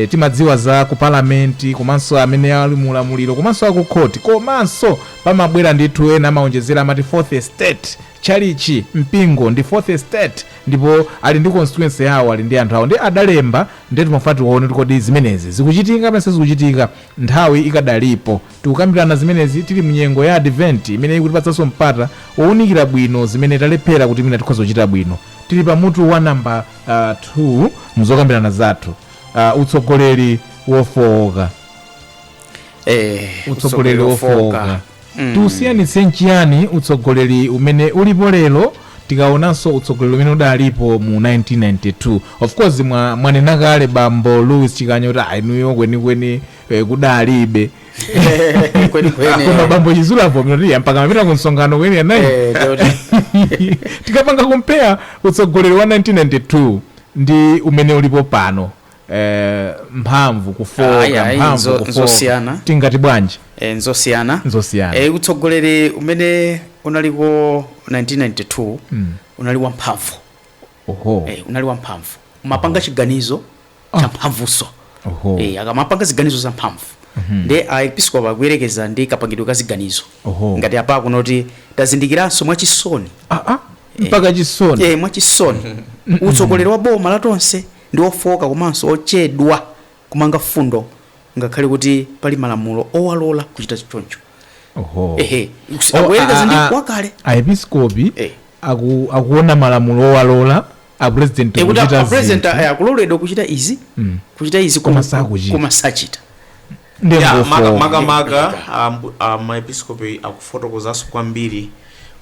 Timadziwa za ku palamenti komanso amene ali mu ulamuliro komanso akukhoti. Komanso pamabwera ndithu ena amawonjezera amati fourth estate, tchalichi, mpingo ndi fourth estate ndipo ali ndi constituency yawo, ali ndi anthu awo ndiye adalemba ndiye timafuna tione kuti kodi zimenezi zikuchitika kapena sizikuchitika nthawi ikadalipo. Tikukambirana zimenezi tili mu nyengo ya Adventi imene ikutipatsanso mpata wounikira bwino zimene talephera kuti mwina tikhoza kuchita bwino. Tili pa mutu wa nambala 2 m'zokambirana zathu, ah, Utsogoleri Wofooka. Eh, Utsogoleri Wofooka. Tiusiyanitse n'chiyani utsogoleri umene ulipo lero tikaonanso utsogoleri umene udalipo mu 1992 of course mwa- mwanena kale bambo louis chikanya kuti a inuyo kwenikweni Eh, kudalibe kweni kweni koma bambo chizulu avomereza mpaka mumapita ku msonkhano kwa eni anayi Eh, choti. tikapanga compare utsogoleri wa 1992 ndi umene ulipo pano eh, mphamvu kufooka Ayi, ayi, mphamvu nzo- kufooka nzosiyana. tingati bwanji Eh, nzosiyana Nzosiyana. Eh, utsogoleri umene unaliko 1992 unali wamphamvu oho Eh, unali wamphamvu umapanga chiganizo champhamvunso Oho. Eh, akamapanga ziganizo zamphamvu nde aepiskopi akuyerekeza ndi kapangidwe ka ziganizo Oho. ngati apa akunena kuti tazindikiranso mwachisoni Ah, ah, mpaka chisoni eh, mwachisoni utsogoleri wa boma la Tonse ndi wofooka komanso ochedwa kumanga mfundo ngakhale kuti pali malamulo owalola kuchita choncho Oho. ehe Oh, akuyerekeza ah, ndi ah, wakale aepiskopi Eh. aku- akuona malamulo owalola a president kuchita zinthu akuloledwa kuchita izi mm. kuchita izi koma sakuchita koma sachita makamaka maepiskopi akufotokozanso kwambiri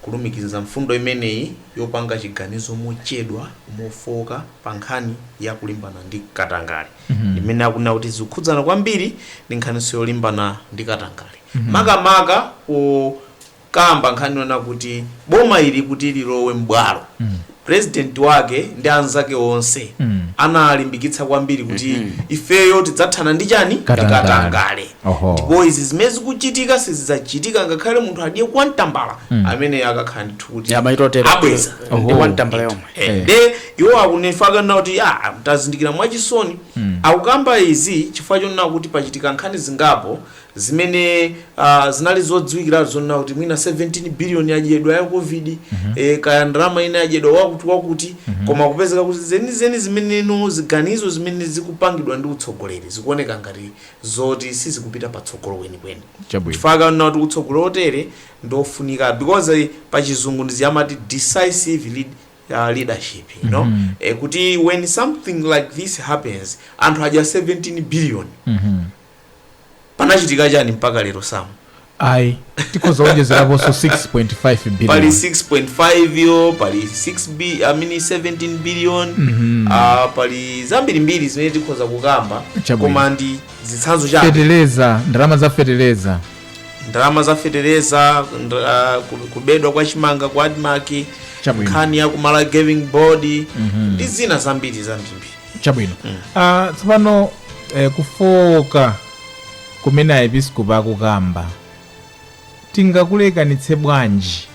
kulumikiza mfundo imeneyi yopanga chiganizo mochedwa mofooka pa nkhani ya kulimbana ndi katangale mm -hmm. imene akunena kuti zikukhudzana kwambiri ndi nkhaninso yolimbana ndi katangale mm -hmm. makamaka kamba nkhani yonena kuti boma ili kuti lilowe m'bwalo purezidenti wake ndi anzake onse analimbikitsa kwambiri kuti ifeyo tidzathana ndi chani ndi Katangale. katangale Oho. ndipo izi zimene zikuchitika sizidzachitika ngakhale munthu adye kwa tambala amene akakhala ndithu kuti Ya, maito tero. abweza Oho. Ndi kwa tambala yomwe. Eh, Eh. nde iwo akunena kuti ah, tazindikira mwachisoni akukamba izi chifukwa chonena kuti pachitika nkhani zingapo zimene uh, zinali zodziwikiratu zonena kuti mwina 17 billion yadyedwa ya covid mm -hmm. e, kaya ndalama ina adyedwa wakuti wakuti mm -hmm. koma kupezeka kuti zenizeni zimeneno ziganizo zimene zikupangidwa ndi utsogoleri zikuoneka ngati zoti sizikupita patsogolo kwenikweni Chabwino. chifukwa kanena kuti utsogoleri otere ndiofunika because eh, pa chizungu ndiye amati decisive lead, uh, leadership you know mm -hmm. e, kuti when something like this happens anthu adya 17 billion mm -hmm. panachitika chani mpaka lero samu ayi tikhoza kuonjezeraponso 6.5 pali billion 6.5 yo pali 6 bi, I mean 17 billion Mhm. ah, pali zambirimbiri zimene tikhoza kukamba Chabwino. koma ndi zitsanzo chabe feteleza ndalama za feteleza ndalama za fetereza ndra- ah, ku- kubedwa kwa chimanga ku admarc Chabwino. nkhani ya ku malawi gaming board ndi zina zambiri zambirimbiri chabwino Ah, tsopano eh, kufowoka kumene aepiskopi akukamba tingakulekanitse bwanji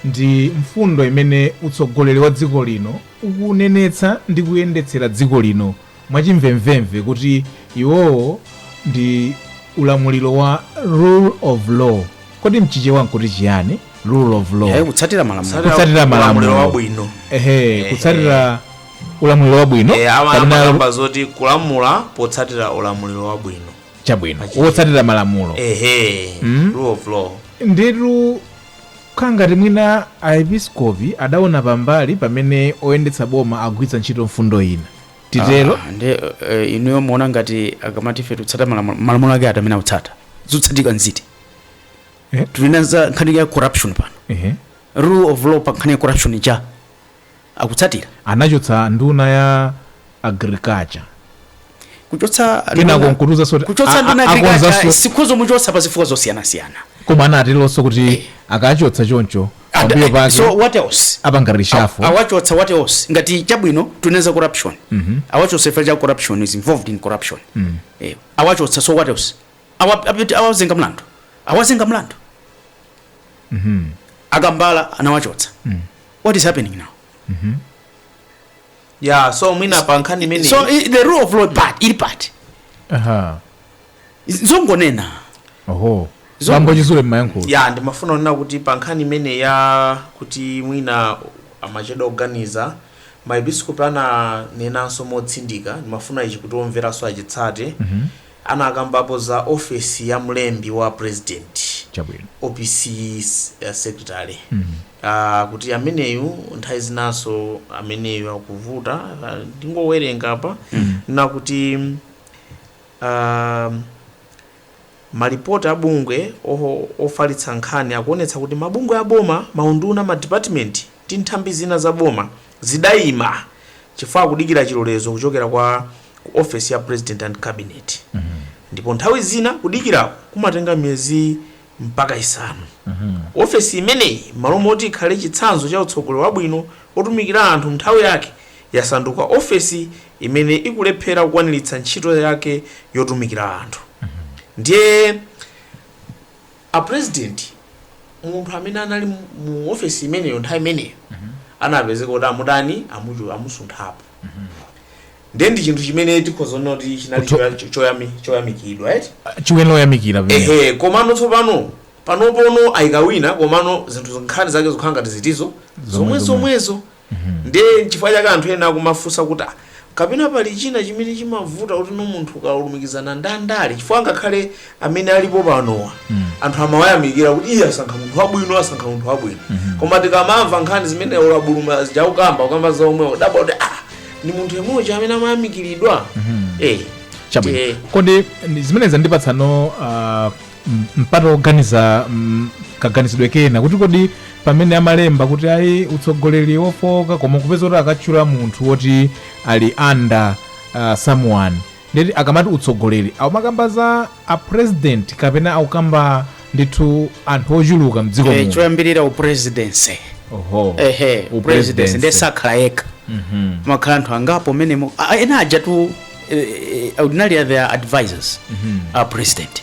ndi mfundo imene utsogoleri wa dziko lino ukunenetsa ndi kuyendetsera dziko lino mwachimvemvemve kuti iwowo ndi ulamuliro wa rule of law kodi mchichewa nkuti chiyani rule of law Eh, kutsatira malamulo Kutsatira malamulo. wabwino ehe kutsatira ulamuliro wabwino e, awa kapena amakamba zoti kulamula potsatira ulamuliro wabwino chabwino wotsatira malamulo ehe rule of law ndithu kukhala ngati mwina aepiskopi adaona pambali pamene oyendetsa boma agwiritsa ntchito mfundo ina titero Ah, nde eh, inuyo muona ngati akamati ife tikutsata malamulo malamulo ake ati amene akutsata zotsatika nziti Eh? tili nazo nkhani ya corruption pano Ehe. rule of law pa nkhani ya corruption cha akutsatira. anachotsa nduna ya agriculture kuchotsa Kenako nduna- nkutuuzanso kuti kuchotsa a- nduna a- agriculture akonzanso- akhoza muchotsa pa zifukwa zosiyanasiyana koma anateronso kuti akachotsa choncho And- pambuyo and- pake so what else apanga reshuffle awachotsa what else ngati chabwino tunena za corruption awachotsa chifukwa cha corruption he's involved in corruption Eh, awachotsa so what else Awa- apiti- awazenga mlandu awazenga mlandu akambala anawachotsa what is happening now ya so mwina pa nkhani imene so i- the rule of law part ili part aha zongonena oho Zo- bambo Chisale mmayankhulo ya ndimafuna kunena kuti pa nkhani imene ya kuti mwina amachedwa kuganiza maepiskopi ananenanso motsindika ndimafuna ichi kuti omveranso achitsate anakambapo za ofesi ya mlembi wa president chabwino opc eh, secretary Aaa akuti ameneyu nthawi zinanso ameneyu akuvuta ah, ndingowerenga apa nakuti ah, malipoti a bungwe oho- ofalitsa nkhani akuonetsa kuti mabungwe a boma maunduna madipatimenti ndi nthambi zina za boma zidayima chifukwa kudikira chilolezo kuchokera kwa office ya president and cabinet ndipo nthawi zina kudikirako kumatenga miyezi mpaka isanu. Ofesi imeneyi, m'malo moti ikhale chitsanzo cha utsogoleri wabwino wotumikira anthu m'nthawi yake, yasanduka ofesi imene ikulephera kukwaniritsa ntchito yake yotumikira anthu. Ndiye a president, munthu amene anali mu ofesi imeneyo nthawi imeneyo anapezeka kuti amutani, amusunthapo. ndiye ndi chinthu chimene tikhoza kunena kuti chinali Kutho- choya- cho- choyami- choyamikidwa eti chiweni loyamikira pamene ehe komano tsopano panopono ayika wina komano zinthu nkhani zake zokhala ngati ndi zomwe zomwezo ndiye chifukwa chake anthu ena akumafunsa kuti "Ah, kapena pali china chimene chimavuta kuti no munthu ukalumikizana ndi ndale chifukwa ngakhale amene alipo panowa anthu amawayamikira kuti iye asankha munthu wabwino asankha munthu wabwino koma tikamamva nkhani zimene a Buluma zija akukamba akukamba za omwewo kudabwa kuti ah ndi munthu yemweyo amene amayamikiridwa eh chabwino eh, kodi ndi- zimene zandipatsano uh, m- mpata woganiza mm, kaganizidwe kena kuti kodi pamene amalemba kuti ayi utsogoleri wofooka koma kupeza kuti akatchula munthu woti ali under uh, someone Nde kuti akamati utsogoleri akumakamba za a president kapena akukamba ndithu anthu ochuluka mdziko eh, muno choyambirira upresidency oho ehe upresidency Upresidency. ndiye sakhala yekha mumakhala anthu angapo mmenemo Ah, ena ajatu eh, eh, ordinarily they are advisors a president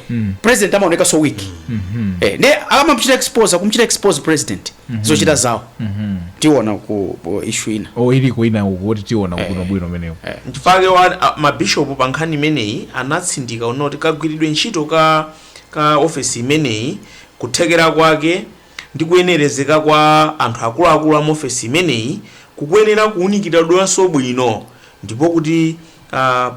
mm. president amaonekanso weak mm -hmm. eh, ndiye akamamchita expose akumchita expose president mm -hmm. zochita zawo mm -hmm. tiona ku issue ina oh, ili kuina kuti tiona eh. kuno bwino kumeneko eh. nchifukwa chake mabishop pa nkhani imeneyi anatsindika kunena kuti kagwiridwe ntchito ka office imeneyi kuthekera kwake ndi kuyenerezeka kwa anthu akuluakulu a mu ofesi imeneyi kukuyenera kuwunikiridwanso bwino ndipo kuti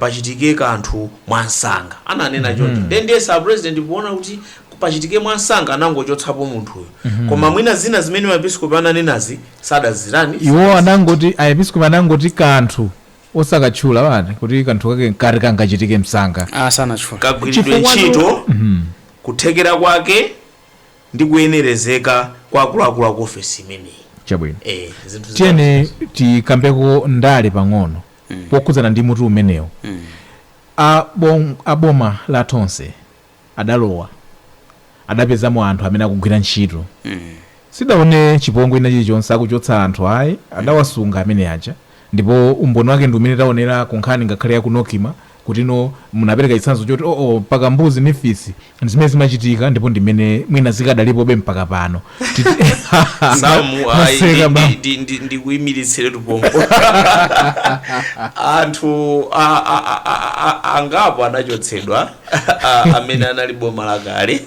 pachitike kanthu mwamsanga, ananena choncho. Nde ndiyesa a President poona kuti pachitike mwamsanga anangochotsapo munthuyo koma mwina zina zimene ma episkopi ananenazi sadazitani, Iwo sadazimve. anangoti a episkopi anangoti kanthu osakatchula bwanji kuti kanthu kake nkati kangachitike msanga. Ah, sanatchule. Kagwiridwe Chifukwa tu- ntchito, kuthekera kwake, ndi kuyenerezeka kwa akuluakulu a ku ofesi imeneyi. Chabwino. Eh, zinthu zitatu Tiyeni zimenezo. tikambeko ndale pang'ono pokhudzana ndi mutu umenewu. A bom- a boma la Tonse adalowa adapezamo anthu amene akugwira ntchito. Sitidaone chipongwe ina chilichonse chakuchotsa anthu ayi adawasunga amene aja ndipo umboni wake ndi umene taonera ku nkhani ngakhale ya ku NOCMA kuti inu munapereka chitsanzo choti, o, o, mpaka mbuzi ndi fisi ndi zimene zimachitika ndipo ndi mmene mwina zikadalipobe mpaka pano Titi- samu ayi, Maseka ndi- bambo. ndi- ndi- ndi- ndikuyimiritsiretu pompo anthu a- a- a- a- a- angapo anachotsedwa a- amene anali boma lakale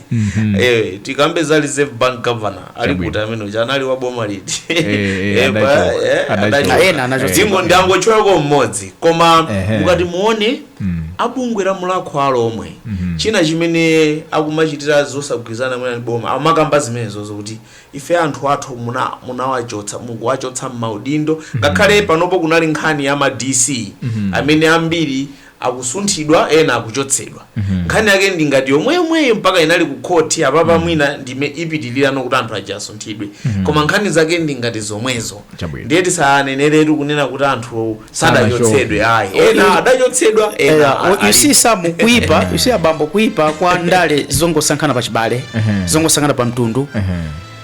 Eh, tikambe za reserve bank governor ali Chabwino. kuti amene uja anali wa boma liti Eh, eh, Eh, pa- adachoka. eh, Adachoka. adachoka. Ah, ena anachoka. Tingo ndangotchulako mmodzi koma Ehe. mukati muone Mm. a bungwe la Mulhako wa Alhomwe Mhm. china chimene akumachitira zosagwirizana mwina ndi boma amakamba zimenezo zokuti ife anthu athu muna- munawachotsa mukuwachotsa mmaudindo ngakhale panopo kunali nkhani ya ma dc amene ambiri akusunthidwa ena akuchotsedwa nkhani yake ndi ngati yomweyomweyo mpaka inali ku khoti apapa mwina ndi m'mene ipitilire kuti anthu aja asunthidwe koma nkhani zake ndi ngati zomwezo Chabwino. ndiye tisaneneretu kunena kuti anthu sadachotsedwe ayi ena adachotsedwa ena Yeah, a- you ali- see Sam kuipa you see abambo kuipa kwa ndale zongosankhana pa chibale zongosankhana pa mtundu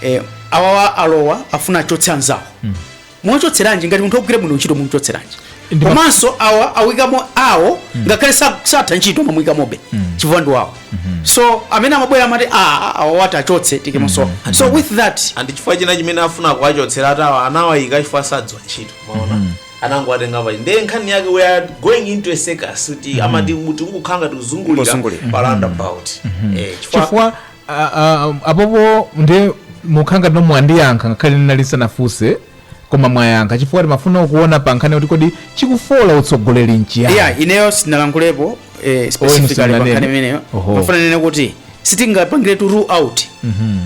eh, awawa alowa afuna achotse anzawo muchotseranji ngati munthu ogwira bwino ntchito mumchotseranji Ndi ma- komanso awa awikamo awo ngakhale sa- satha ntchito amamuyikamobe chifukwa ndi wawo so amene amabwera amati "Ah, awa awa tiwachotse tiikemonso awa so with that andi chifukwa china chimene afuna kuwachotsera ati awa anawayika chifukwa sadziwa ntchito mwaona anangowatenga pali ndiye nkhani yake we are going into a circus kuti amati kuti mukukhala ngati tikuzungulira Kuzungulira. pa roundabout Eh, chifukwa chifukwa Ah, ah, apopo nde mukhala ngatino mwandiyankha ngakhale ndinali ndisanafunse koma mwayankha chifukwa timafuna kuona pa nkhani kuti kodi chikufoola utsogoleri nchiyani yeah ineyo sinalankulepo eh, specifically musananene. pankhani imeneyo Oho. ndimafuna ndinene kuti sitingapangire to rule out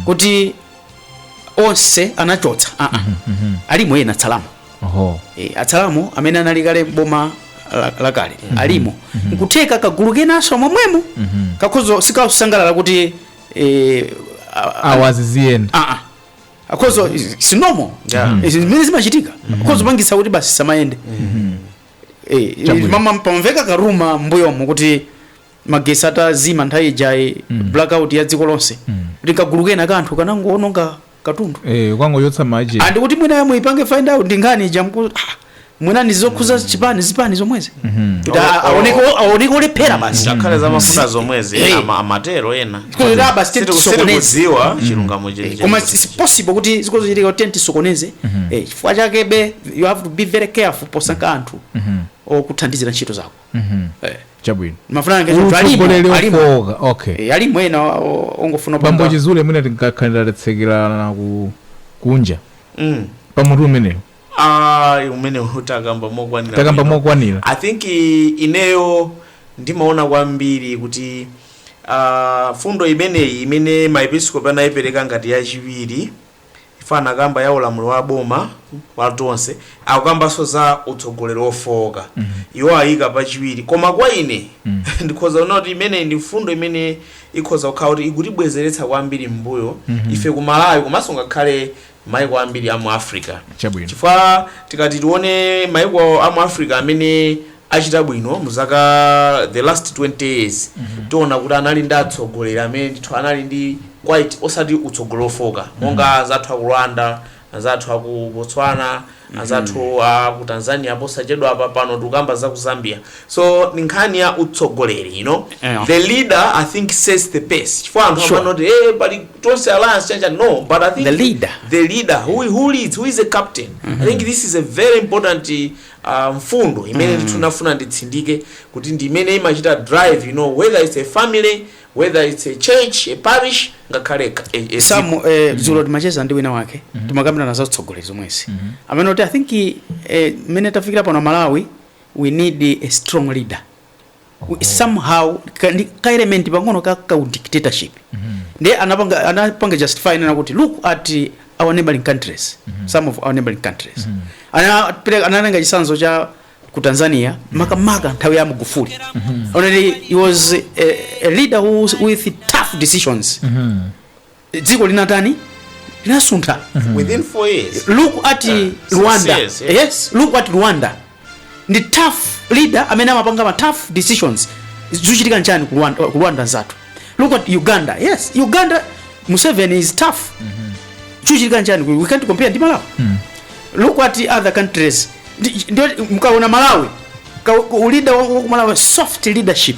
kuti onse anachotsa aa alimo ena atsalamo oho e, atsalamo amene anali kale boma la- lakale alimo nkutheka kagulu kenaso momwemo kakhoza osakasangalala kuti e, a- a- awaziziyeni Ah, ah. akhoza si nomo zimene zimachitika akhozopangisa kuti basi zisamayende Eh, Chabwino. panamveka ka rumour mbuyomo kuti magesi atazima nthawi ija ya blackout ya dziko lonse kuti kagulu kena kanthu kanangoononga katundu eh ukangochotsa ma agent and kuti mwina yomwe ipange find out ndi nkhani ija nkuti ah, mwina ndi zokhuza zipani zipani zomwezi kuti a- aoneke aoneke olephera basi ngakhale za mafuta zomwezi Eh. ama- amatero ena Kuti basi titi tisokoneze sitikuziwa chilungamo chenicheni koma. it's possible kuti zikhozochitika kuti titi tisokoneze eh, chifukwa chake be you have to be very careful posankha anthu okuthandizira ntchito zako Mhm. Eh. Chabwino. Mafuna ngati Uyu alimo, atsogoleri alimo. ofooka. Okay. Eh, alimo ena o- ongofuna Bambo kupanga- Chizule mwina tinkakhalira tatsekerana ku kunja. Mm. Pamutu umenewu. Ah, umene uja takamba mokwanira Takamba bwino. mokwanira. i think i- ineyo ndimaona kwambiri kuti uh, mfundo imeneyi imene maepiskopi anayipereka ngati yachiwiri If anakamba ya ulamuliro wa boma wa Tonse, akukambanso za utsogoleri wofooka. Iwo ayika pachiwiri. Koma kwa ine, ndikhoza kunena kuti imeneyi ndi mfundo imene ikhoza kukhala kuti ikutibwezeretsa kwambiri m'mbuyo ife ku Malawi komanso ngakhale maiko ambiri a mu Africa. Chabwino. Chifukwa tikati tione maiko a mu Africa amene achita bwino mu zaka the last 20 years mm -hmm. tiona kuti anali ndi atsogoleri amene ndithu anali ndi quite osati utsogoleri ofooka monga mm -hmm. anzathu aku rwanda anzathu aku botswana anzathu mm -hmm. aku tanzania posachedwa apa pano tikukamba za ku zambia so ndi nkhani ya utsogoleri you know Yeah. the leader i think sets the pace chifukwa anthu Sure. amanena kuti eh pali tonse alliance chacha no but i think The leader. the leader who, who leads who is a captain i think this is a very important a mfundo imene ndithu ndafuna nditsindike kuti ndi imene imachita drive you know whether it's a family whether it's a church a parish ngakhale ka- a- a dziko. Sam eh, dzulo timacheza ndi wina wake timakambirana za utsogoleri zomwezi amanena kuti i think eh, mmene tafikira pano amalawi we need a strong leader somehow ka, ndi ka element pang'ono ka u dictatorship ndiye anapanga anapanga justify kunena kuti look at our neighboring countries some of our neighboring countries Anapere- anatenga chisanzo cha ku tanzania makamaka nthawi ya magufuli onani he was a, a leader who, with tough decisions dziko linatani linasuntha within four years look at Yeah. rwanda Yes, yes. yes look at rwanda ndi tough leader amene amapanga ma tough decisions zikuchitika nchani ku rwanda, ku rwanda nzathu look at uganda yes uganda museveni is tough chikuchitika nchani we can't compare ndi malawi look at other countries Ndi- ndio mkaona malawi ka- leader wa wa- malawi soft leadership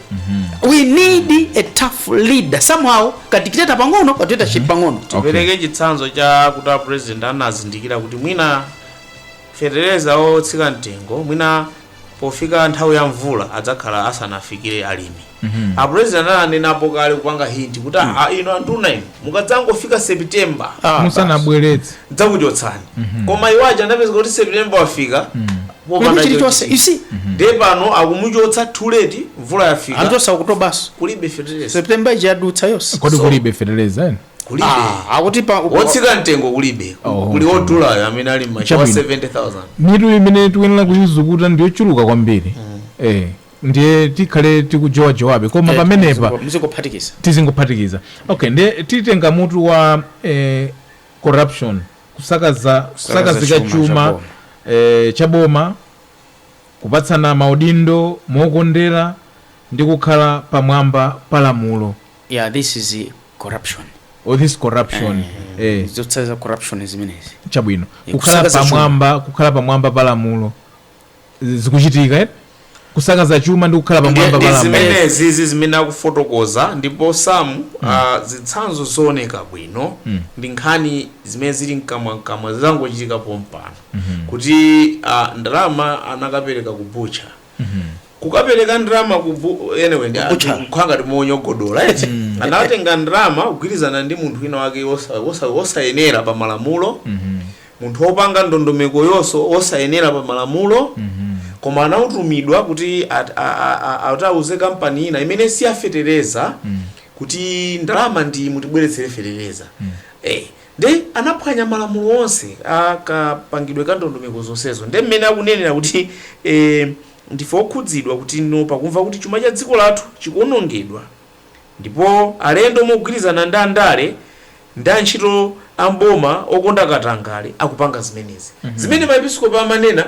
we need a tough leader somehow kadictator pang'ono kadictatorship pang'ono tipereke chitsanzo cha kuti apresident anazindikira kuti mwina fetereza otsika mtengo mwina pofika nthawi ya mvula adzakhala asanafikire alimi apresident ananenapo kale kupanga hinti kuti "Ah, ino anduna ino mukadzangofika september Ah, basi. musanabweretse ndidzakuchotsani koma ijayi yapezeka kuti september wafika popanda Palibe chilichonse. chochita. You see? ndiye pano akumuchotsa too late mvula yafika anadutsa Okutobanso kulibe fetereza september ija yadutsa yonse kodi So- kulibe feteleza eni kulibe Ah, akutipo wotsika mtengo kulibe Oh, kuli okay. wodulayo amene ali m'machawa Chabwino. 70000 mitu imene tikuyenera kuyizukuta ndiyochuluka kwambiri eh ndiye tikhale tikujowajowabe koma pamenepa muzikophatikiza tizingophatikiza okay ndiye titenga mutu wa eh, corruption kusakaza Kusakaza kusakazika chuma cha chuma boma. eh, cha boma kupatsana maudindo mokondera ndi kukhala pamwamba pa lamulo yeah this is eh, corruption all this corruption eh, zotsatira za corruption zimenezi chabwino Eh, kukhala kusakaza chuma. pamwamba kukhala pamwamba pa lamulo zikuchitika eti kusakaza chuma ndi kukhala pamwamba pa lamulo zimenezi ndi zimene akufotokoza ndipo sam ah, zitsanzo zooneka bwino ndi nkhani zimene zili mkamwamkamwa zangochitika pompano kuti ah, ndalama anakapereka ku bucha kukapereka ndalama ku bu- anyway Bucha. zikukhala ngati tikumunyogodola eti anatenga ndalama kugwirizana ndi munthu wina wake wosa- wosa- wosayenera pa malamulo Munthu opanga ndondomeko yonso osayenera pa malamulo koma anautumidwa kuti atauze kampani ina imene si ya fetereza kuti ndalama ndi iyi mutibweretsere fetereza eh nde anaphwanya malamulo onse a kapangidwe ka ndondomeko zonsezo nde mmene akunenera kuti eh ndife okhudzidwa kuti no pakumva kuti chuma cha dziko lathu chikuonongedwa Ndipo alendo mogwirizana ndi andale ndi antchito a m'boma okonda katangale akupanga zimenezi. Zimene maepiskopi amanena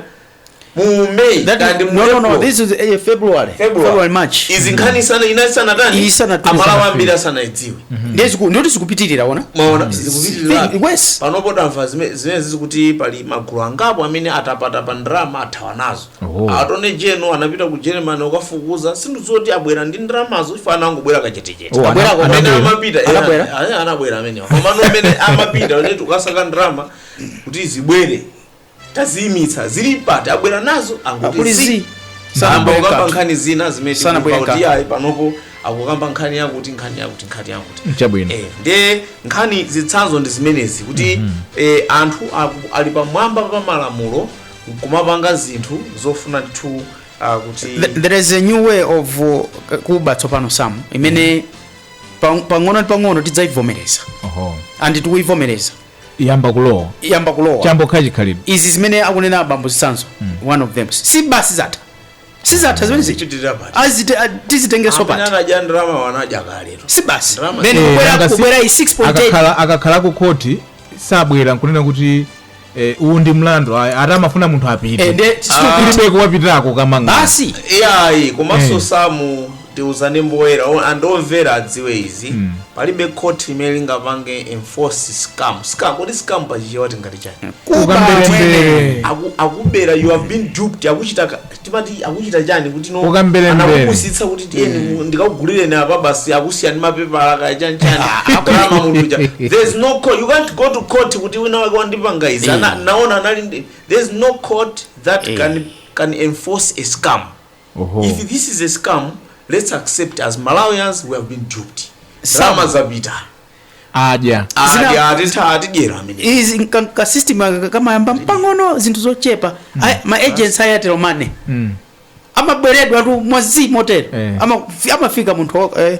mu May That- kaya ndi mu no, no, no, April, this is eh, February. February. February, March. Izi nkhani isana inasanatani Isanatani. aMalawi ambiri asanaidziwe. Ndiye ziku- ndye kuti zikupitirira ona. Mwaona Think- zikupitirira. yes. Panopo tamva zime- zimenezi kuti pali magulu angapo amene atapatapa ndalama athawa nazo. Oho. attorney general anapita ku germany kukafufuza sindidziwa kuti abwera ndi ndalamazo ife anangobwera kachetechete Oh, Abwera ana- kumene anabwera. amapita eh, Anabwera? eh, anabwera amenewa komano amene amapita one tikasaka ndalama kuti zibwere taziyimitsa zili pati abwera nazo Akuli angoti zi. zi Sana ayamba bweka. kukamba nkhani zina zimene Sana tikumva bweka. kuti ayi panopo akukamba nkhani yakuti nkhani yakuti nkhani yakuti chabwino Eh, nde nkhani zitsanzo ndi zimenezi kuti eh, anthu aku- ali pamwamba pa malamulo nkumapanga zinthu zofuna ndithu uh, kuti Th- there is a new way of uh, kuba tsopano sam imene pang- pang'ono ndi pang'ono tidzayivomereza Oho. and tikuyivomereza yamba kulowa yamba kulowa chambokha chikhalidwe izi zimene akunena abambo zitsanzo one of them si basi zatha sizatha zimene zija Tichitira pati. azite a- tizitengenso Amene pati anadya ndalama wanadya kale tu. si basi Drama. then Eh, kubwera nanga si- kubwera iyi 6.8 akakhala akakhala ku khoti sabwera nkunena kuti eh, uwu ndi mlandu ayi, ati amafuna munthu apite ende kulibe kuwapitako kamanga basi iyayi komanso Eh. samu Tiuzane poyera and omvera adziwe izi palibe court limene lingapange enforce scam scam kodi scam pa chichewa tingati chani kuba Ukamberembere. Aku- akubera you have been duped akuchita ka- timati akuchita chani kuti no Ukamberembere. anakupusitsa kuti tiyeni mu- ndikakugulireni apa basi akusiyani mapepala kaya chani chani akulama muluja there's no court you can't go to court kuti wina wake wandipanga izi Ana- naona anali ndi- there's no court that can can enforce a scam Oho. If this is a scam let's accept as Malawians we have been duped. Sam zapita. Adya. Adya atitha atidyera amene. Izi nka- ka system aka kamayamba mpang'ono zinthu zochepa Aya- ma agents a Airtel Money Mm. amaberedwa tu mwazi motero Eh. Ama- amafika munthu wa- eh,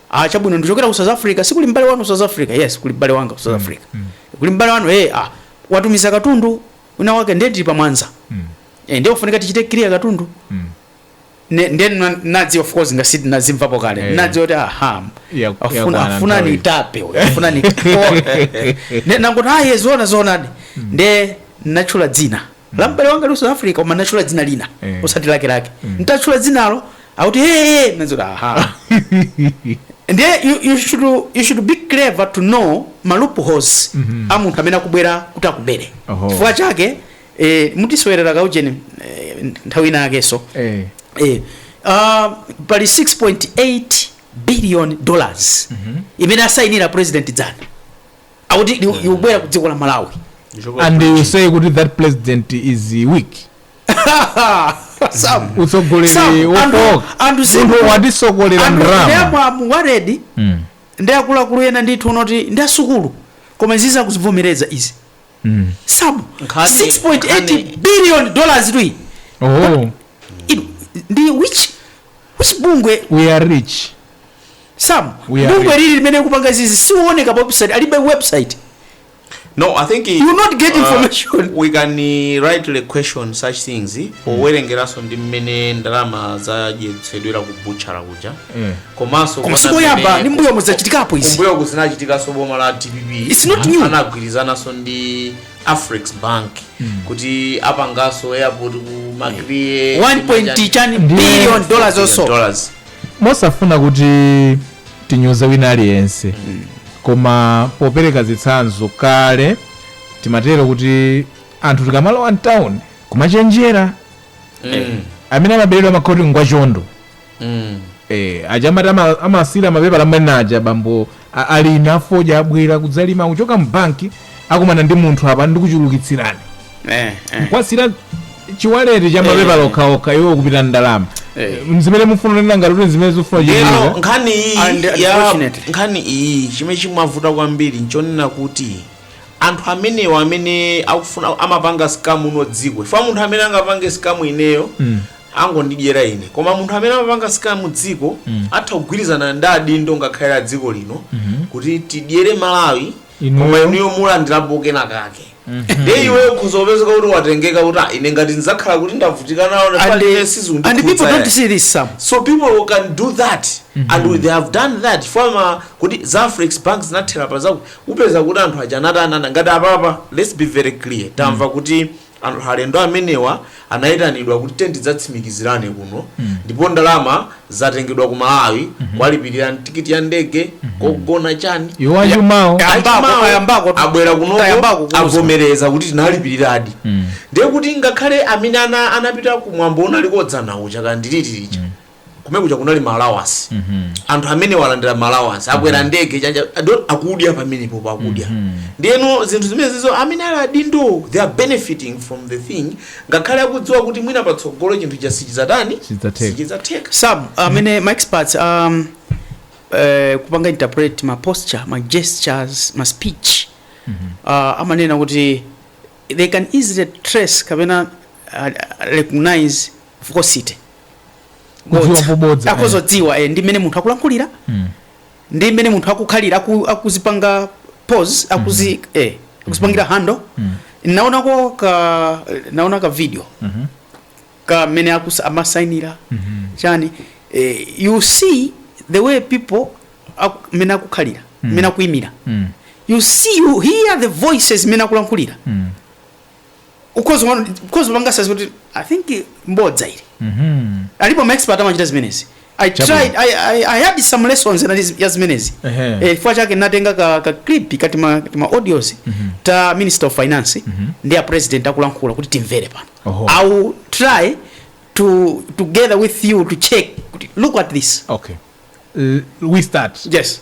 ah chabwino ndichokera ku south africa sikuli m'bale wanu ku south africa yes kuli m'bale wanga ku south africa kuli m'bale wanu eh ah watumiza katundu wina wake ndiye tili pa mwanza eh ndiye kufunika tichite clear katundu Ne- ndiye na- nadziwa of course ngati nazimvapo kale Eh. nadziwa kuti aha Ya- afuna yakwana afuna nthawi. anitape uyu, afuna anitape ne nangoti ayi zona zonadi ndiye natchula dzina la m'bale wanga ali ku south africa koma natchula dzina lina Eh. osati lake lake ntatchula dzinalo akuti eya nadziwa kuti aha ndiye you, you, should, you should be clever to know ma loopholes a munthu amene akubwera kuti akubere Oho. chifukwa chake eh, mutisewerera kaujeni eh, nthawi ina yakenso Eh. eh, uh, pali 6.8 billion dollars imene asayinira president dzana akuti li- likubwera ku dziko la malawi and you say kuti that president is weak Sam, utsogoleri Sam, anthu- wofowoka anthu si- munthu watisakira anthu ndalama ndeyamwa wa ready Mm, ndi akuluakulu ena ndithu woti ndi asukulu koma izi za kuzivomereza izi mm. sam Nkhani- 6.8 nkhani- billion dollars tui oh. Inu, ndi which Which bungwe? We are rich. Sam, We are bungwe rich. lili limene likupanga izi siliwoneka pa website, alibe website. No, I think You not get information. we can uh, rightly question such things eh, powerengeranso ndi mmene ndalama zadyetsedwera ku butchala kuja Mm. komanso Koma kuona sikoyamba, mmene- ndi mbuyomu zachitikapo izi. kumbuyoku zinachitikanso boma la dpp It's not new. anagwirizananso ndi afrix bank kuti apangenso airport ku makriye 1 point chakuti Ndiye- billion dollars also dollars mosafuna kuti tinyoze wina aliyense koma popereka zitsanzo kale timatero kuti anthu tikamalowa mtawuni kumachenjera amene amaberedwa amakhala kuti ndi wachondo Eh, aja amati ama- amasiyira mapepala amene aja bambo a- alima fodya abwera kudzalima akuchoka mbanki akumana ndi munthu apa ndikuchulukitsirani Eh, eh. kuwasiyira chiwaleti cha mapepala okhaokha iwo kupita ndalama Eh. nzimene mufuna kunena ngati kuti zimene zifuna lero chiiza nkhani iyi And ya unfortunately. nkhani iyi chimene chimavuta kwambiri nchonena kuti anthu amenewa amene akufuna amapanga scam muno dziko chifukwa munthu amene angapange scam ineyo angondidyera ine koma munthu amene amapanga scam dziko Mm. atha kugwirizana ndi adindo ngakhale a dziko lino Mhm. kuti tidyere malawi Inuyo. koma inuyo mulandirapo kena kake nde iwe ukhoza kupezeka kuti watengeka kuti "Ah, ine ngati ndidzakhale kuti ndavutika nawo And, palibe uh, and people sizikundikhudza don't see this Sam. so people can do that and we- they have done that tamva kuti za afrex bank zinathera pa zake upeza kuti anthu aja anaitanana ngati apapa let's be very clear tamva kuti Anthu alendo amenewa anaitanidwa kuti tandidzatsimikizirani kuno mm -hmm. ndipo ndalama zatengedwa ku Malawi mm -hmm. kuwalipirira tikiti ya ndege mm -hmm. kogona chani iwo achumawo abwera kuno avomereza kuti tinalipiriradi mm. ndiye kuti ngakhale amene ana anapita kumwambo unaliko dzana uja kandiritiricha mm. kumene kuja kunali ma allowance anthu amenewa alandira ma allowance akwera ndege chanja ado- akudya pamenepopo akudya ndiyeno zinthu zimenezizo amene ali adindo they are benefiting from the thing ngakhale akudziwa kuti mwina patsogolo chinthucho sichizatani Sichizatheka. sichizatheka sam amene ma experts um, eh, kupanga interpret ma posture ma gestures ma speech uh, amanena kuti they can easily trace kapena uh, recognize falsity Kudziwa pobodza, eh. akhozodziwa eh, ndi mmene munthu akulankhulira Mm. ndi mmene munthu akukhalira aku- akuzipanga pose akuzi eh, akuzipangira handle naonako ka naona ka video Mhm. ka mmene akusa- amasainira Mhm. chani eh, you see the way people aku- mmene akukhalira mmene akuimira Mm. you see you hear the voices mmene akulankhulira Mm. ukhoza umano ukhoza panga assess kuti i think mbodza ili Mhm. alipo ma expert amachita zimenezi i Chabu. tried i i, I had some lessons na ya zimenezi Ehe. eh chifukwa chake natenga ka, ka clip kati ma kati ma audios ta minister of finance ndi a president akulankhula kuti timvere pano Oho. i will try to together with you to check kuti look at this okay L- we start yes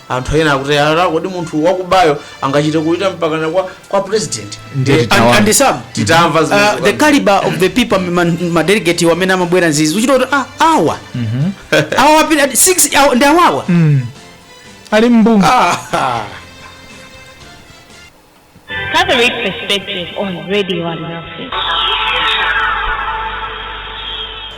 anthu ena akuti ala kodi munthu wakubayo angachite kupita mpakana kwa, kwa president Ndiye Eh, titawa. and, and some titamva uh, zimenezo. the caliber of the people ma- madelegate amene amabwera nzizi uchita kuti ah, awa awa wapita ati six awa- ndi awawa ali mbungu Ah, Catholic Perspective on Radio Alinafe.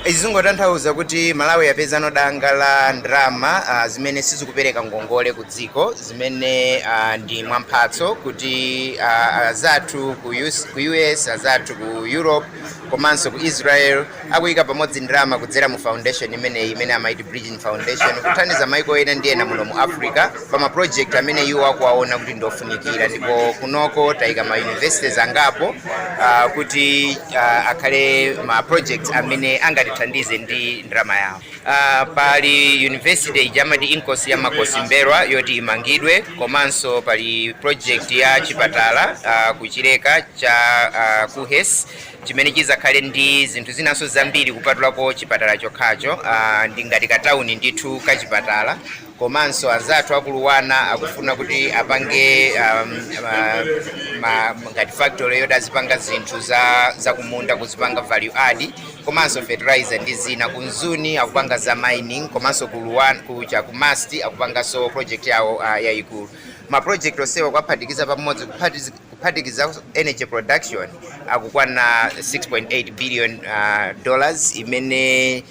Izi zingotanthauza kuti Malawi yapezano danga la ndalama uh, zimene sizikupereka ngongole ku dziko zimene uh, ndi mwamphatso kuti uh, azathu ku US, ku US azathu ku Europe komanso ku Israel akuyika pamodzi ndalama kudzera mu foundation imeneyi imene amayiti Bridgin Foundation kuthandiza maiko ena ndi ena muno mu Africa pa ma project amene iwo akuwaona kuti ndi ofunikira ndipo kunoko tayika ma universities angapo ah, kuti ah, akhale ma projects amene angatithandize ndi ndalama yawo Uh, pali university ija amati Inkosi ya Makosi M'mbelwa yoti imangidwe komanso pali project ya chipatala uh, ku Chileka cha uh, KUHeS chimene chizakhale ndi zinthu zinanso zambiri kupatulako chipatala chokhacho uh, ndi ngati katauni ndithu kachipatala komanso anzathu aku LUANAR akufuna kuti apange um, uh, ma, ngati factory yoti azipanga zinthu za, za kumunda kuzipanga value add komanso fertilizer ndi zina ku Mzuni akupanga za mining komanso ku LUANAR ku cha ku MUST akupanganso project yawo uh, yayikulu ma project onsewa kuwaphatikiza pamodzi kuphatiz- kuphatikiza energy production akukwana 6.8 billion uh, dollars imene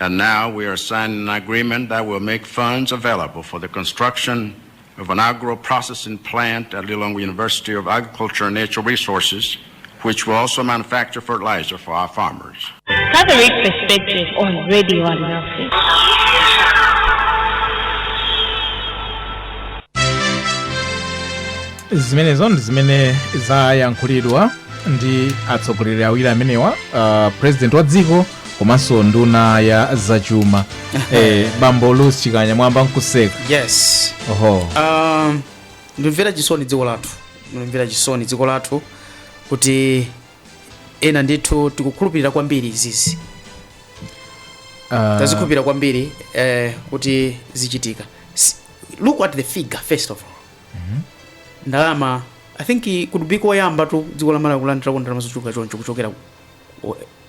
And now we are signing an agreement that will make funds available for the construction of an agro processing plant at Lilongwe University of Agriculture and Natural Resources, which will also manufacture fertilizer for our farmers. Catholic Perspective on Radio and Nothing. zimenezo ndi zimene zayankhulidwa ndi atsogoleri awiri amenewa uh, president wa dziko komanso nduna ya zachuma eh, bambo Louis Chikanya mwayamba nkuseka yes oho um, ndimvera chisoni dziko lathu ndimvera chisoni dziko lathu kuti ena ndithu tikukhulupirira kwambiri izizi Ah, tazikhulupirira kwambiri eh, kuti zichitika S- look at the figure first of all ndalama i think could be koyambatu dziko la malawi kulandirako ndalama zochuluka choncho kuchokera ku-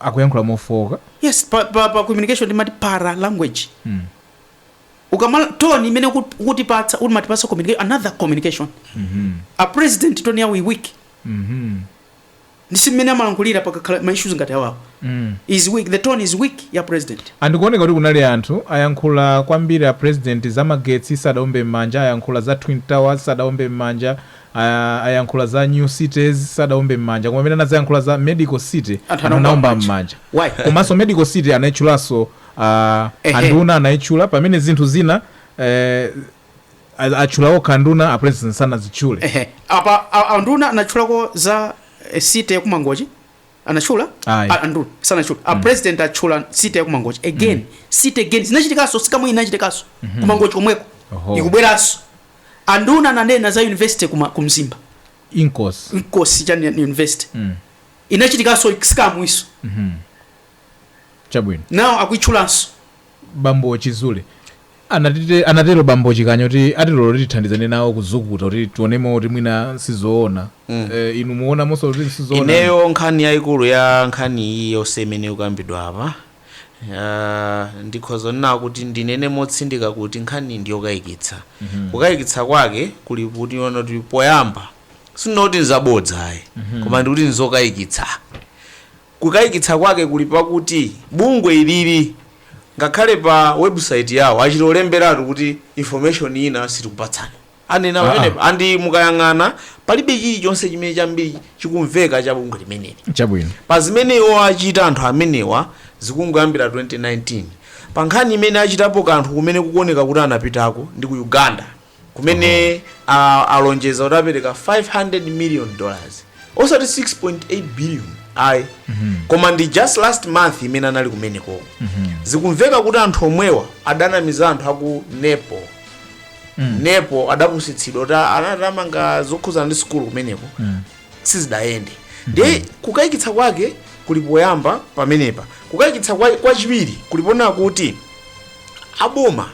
akuyankhula mofooka. Yes, pa, pa, pa communication timati para language. Mm. Ukama tone imene ukut- ukutipatsa umatipatsa communication another communication. Mhm. A president tone yawo is weak. Mhm. Ndi si mmene amalankhulira pakakhala ma issues ngati awawo. Mm. Is weak. The tone is weak ya president. andikuoneka kuti kunali anthu ayankhula kwambiri a president za magetsi sadaombe m'manja ayankhula za twin towers sadaombe m'manja Ayankhula za new cities sadaombe mmanja koma pamene anadzayankhula za medical city Anthu anaomba mmanja. Why? komanso medical city anaitchulanso a Ehe. anduna anaitchula pamene zinthu zina eh, a- atchula okha anduna a president sanazitchule Ehe. apa a- anduna anatchulako za eh, city yakumangochi anatchula Ayi. A- anduna sanatchule a president atchula city yakumangochi again city again zinachitikanso sikamwe inachitikanso kumangochi komweko Oho. ikubweranso anduna ananena za university kuma- ku Mzimba inkosi mkosi chani- university inachitikanso sikamwiso chabwino nawo akuitchulanso bambo chizule Anatite, anatero bambo Chikanya kuti atilola kuti tithandizane nawo kuzukuta kuti tionemo kuti mwina sizoona. Eh, inu mwaonamonso kuti sizoona? Ineyo nkhani yaikulu ya nkhani iyi yonse imene ikukambidwa apa ah, ndikhoza kunena kuti ndinene motsindika kuti nkhani ndi yokayikitsa kukayikitsa kwake kuli poti ona kuti poyamba sindinena kuti nzabodza ayi koma ndikuti nzokayikitsa Kukayikitsa kwake kuli pakuti bungwe ilili ngakhale pa website yawo achita kulemberatu kuti information ina sitikupatsani. Anena Aa. pamenepa and mukayang'ana palibe chilichonse chimene chambiri chikumveka cha bungwe limeneli. Chabwino. Pa zimene iwo achita anthu amenewa zikungoyambira 2019. Pa nkhani imene achitapo kanthu kumene kukuoneka kuti anapitako ndi ku Uganda. kumene a- alonjeza kuti apereka 500 million dollars osati 6.8 billion ayi koma ndi just last month imene anali kumeneko zikumveka kuti anthu omwewa adanamiza anthu aku Nepal Nepal adapusitsidwa kuti anati amanga zokhudzana ndi sukulu kumeneko sizidayende ndiye kukayikitsa kwake kuli poyamba pamenepa kukayikitsa kwa- kwachiwiri kuli ponena kuti aboma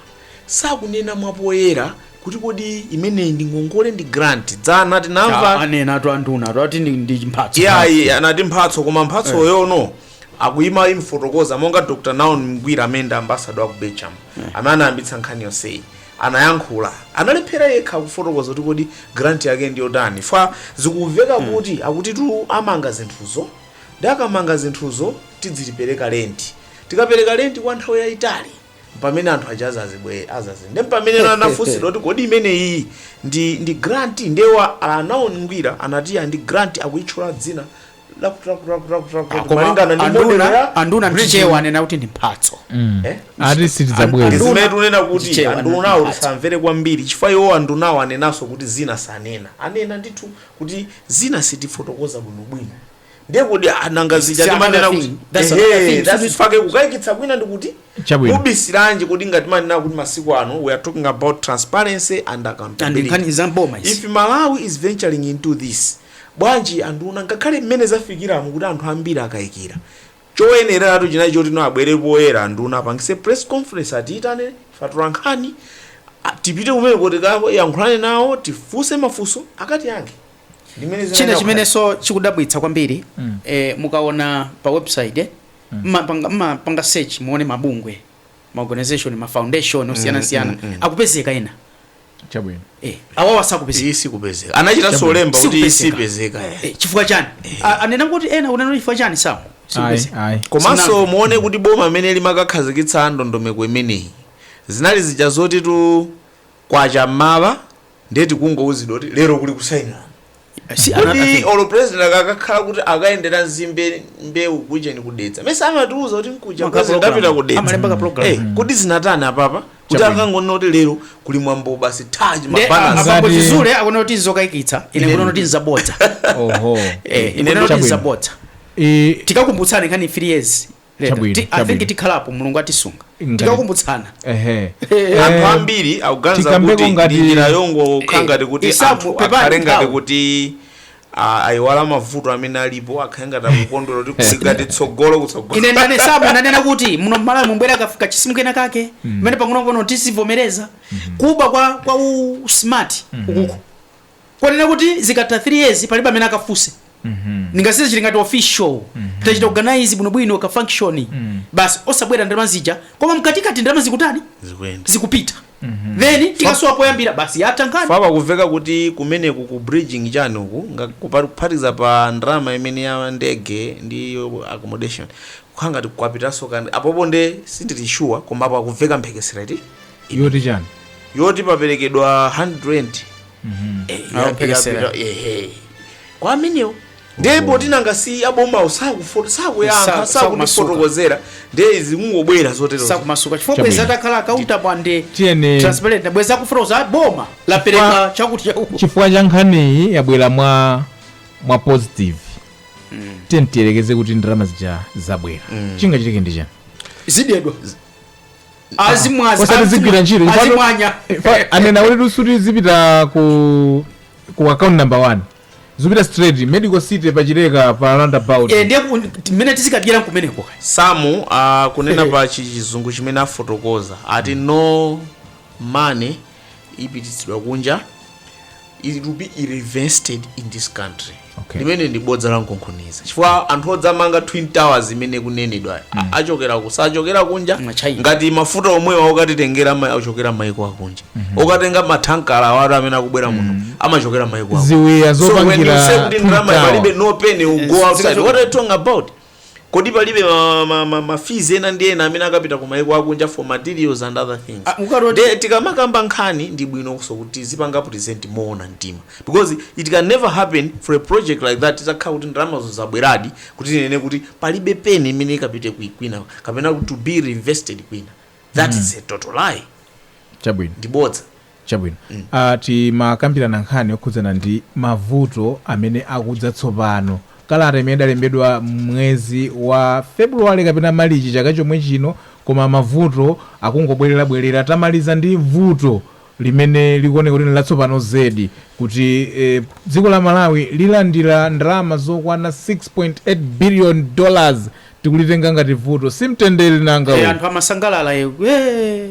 sakunena mwapoyera kuti kodi imeneyi ndi ngongole ndi grant dzana tinamva anena atu anduna atu ati ndi- ndi mphatso iyayi anati mphatso koma mphatsoyono akuti akamaifotokoza monga dr Naomi Ngwira amene ndi ambasado aku Belgium amene anayambitsa nkhani yonseyi anayankhula analephera yekha kufotokoza kuti kodi grant yake ndi yotani chifukwa zikumveka kuti akutitu amanga zinthuzo ndiye akamanga zinthuzo tidzipereka lenti tikapereka lenti kwa nthawi yayitali mpamene anthu aja azazibwe azazi nde mpamene ena anafunsira kuti kodi imene iyi ndi grant nde a Naomi Ngwira anati ya ndi grant akuyitchula dzina koma malingana ndi model ya anduna mchichewa anena kuti ndi mphatso eh? ati sitidzabweza zimene tunena kuti andunawo tisamvere kwambiri chifukwa iwo andunawo anenanso kuti zina sanena anena ndithu kuti zina sitifotokoza bwinobwino ndiye kuti ah, nanga zija timanena kuti that's fake kukayikitsa kwina ndikuti mubisiranji kuti ngati timanena kuti masiku ano we are talking about transparency and and accountability nkhani za mboma izi if malawi is venturing into this bwanji anduna ngakhale mmene zafikiramu kuti anthu ambiri akayikira choyeneratu chinali choti no abwere poyera anduna apangise press conference atiyitane ife atolankhani tipite kumeneko tikayankhulane nawo tifunse mafunso akatiyankhe china chimenenso chikudabwitsa kwambiri Mm. eh, mukaona pa website eh, mupanga search muone mabungwe ma organization ma foundation osiyanasiyana akupezeka ena chabwino eh, awawa sakupezeka iyi sikupezeka anachitanso lemba kuti iyi sipezeka eh. Eh, chifukwa chani anena kuti ena unena chifukwa chani samu ayi sikupezeka ayi komanso muone kuti boma amene limakakhazikitsa ndondomeko imeneyi zinali zija zotitu kwacha m'mawa ndiye tikungouzidwa kuti lero kuli kusainirana kuti olo president akakhala kuti akayendera nzimbe mbewu kujeni ku Dedza mesa amatiuza kuti nkuja president apita ku Dedza kuti zinatani apapa kuti akangonena kuti lero kuli mwambo basi taji mabanasi apapo chizule akuona kuti nzokayikitsa ine Ine- kuona kuti nzabodza oho Eh, ine kuona kuti nzabodza tikakumbutsani nkhani 3 years Later. I think tikhalapo mulungu atisunga tikakumbutsana anthu ambiri akuganiza kuti ndi njira yongokhala ngati kuti anthu akhale ngati kuti ayiwala mavuto amene alipo akhale ngati akukondwera kuti kuli ngati tsogolo kutsogolo ine ndane sabu ananena kuti muno mmalawi mubwera ka- kachisimu kena kake kamene pang'onopang'ono tizivomereza kuba kwa kwa u smart ukuku konena kuti zikatha 3 years palibe amene akafunse nanga si chili ngati official tachita organize bwinobwino ka function basi osabwera ndalama zija koma mkatikati ndalama zikutani zikuyenda zikupita then tikasowa poyambira basi yatha nkhani apa kuveka kuti kumeneku ku bridging chani uku kuphatikiza pa ndalama imene ya ndege ndi ya accommodation kukhala ngati kwapitanso kandi apopo nde sindili sure koma apo akuveka mphekesera iti yoti chani yoti paperekedwa 100 kwa amenewo ndiye poti nanga si abomawo sakufo- sakuyankha sakutifotokozera ndiye zikungobwera zotero sakumasuka chifukwa bwezi atakhala accountable and transparent bwezi akufotokoza boma lapereka chakuti chakuti chifukwa cha nkhaniyi yabwera mwa positive tiyeni tiyerekeze kuti ndalama zija zabwera chingachitike ndi chani zidedwa azimwaza osati zigwira ntchito chifukwa- azimwanya Fa- anena kuti lusuti zipita ku ku account number one zipita straight medical city pachileka pa roundabout Eh, ndiye ku- timene tizikadyera kumeneko kaya samu akunena pa chi- chizungu chimene afotokoza ati no money ipititsidwa kunja it will be reinvested in this country Okay. limene ndi bodza la nkonkhoniza chifukwa anthu odzamanga twin towers imene kunenedwa mm. achokera ku sachokera kunja Ma China. ngati mafuta omwewa okatitengera ama- achokera maiko akunja mm-hmm. okatenga matankala awatu amene akubwera muno amachokera maiko akunja ziwiya so when you say zopangira kuti ndalama Twin Tower. palibe no penny will go outside what are you talking about Kodi palibe ma, ma, ma, ma fees ena ndi ena amene akapita ku maiko akunja for materials and other things Ah, mukatoti- Nde tikamakamba nkhani ndi bwino kuti tizipanga present moona mtima because it can never happen for a project like that izakhala kuti ndalamazo zabweradi kuti tinene kuti palibe penny imene ikapite kwi- kwina kapena to be reinvested kwina that is a total lie chabwino ndi bodza Chabwino. Ah, tikukambirana nkhani yokhudzana ndi mavuto amene akudza tsopano. Kalata imene idalembedwa mwezi wa February kapena Malichi chaka chomwe chino koma mavuto akungobwerezabwereza. Tamaliza ndi vuto limene likuoneka kuti ndi latsopano zedi kuti eh, dziko la Malawi lilandira ndalama zokwana 6.8 billion dollars tikulitenga ngati vuto. Si mtendere nanga Eh, uwu. anthu amasangalala eh, eh,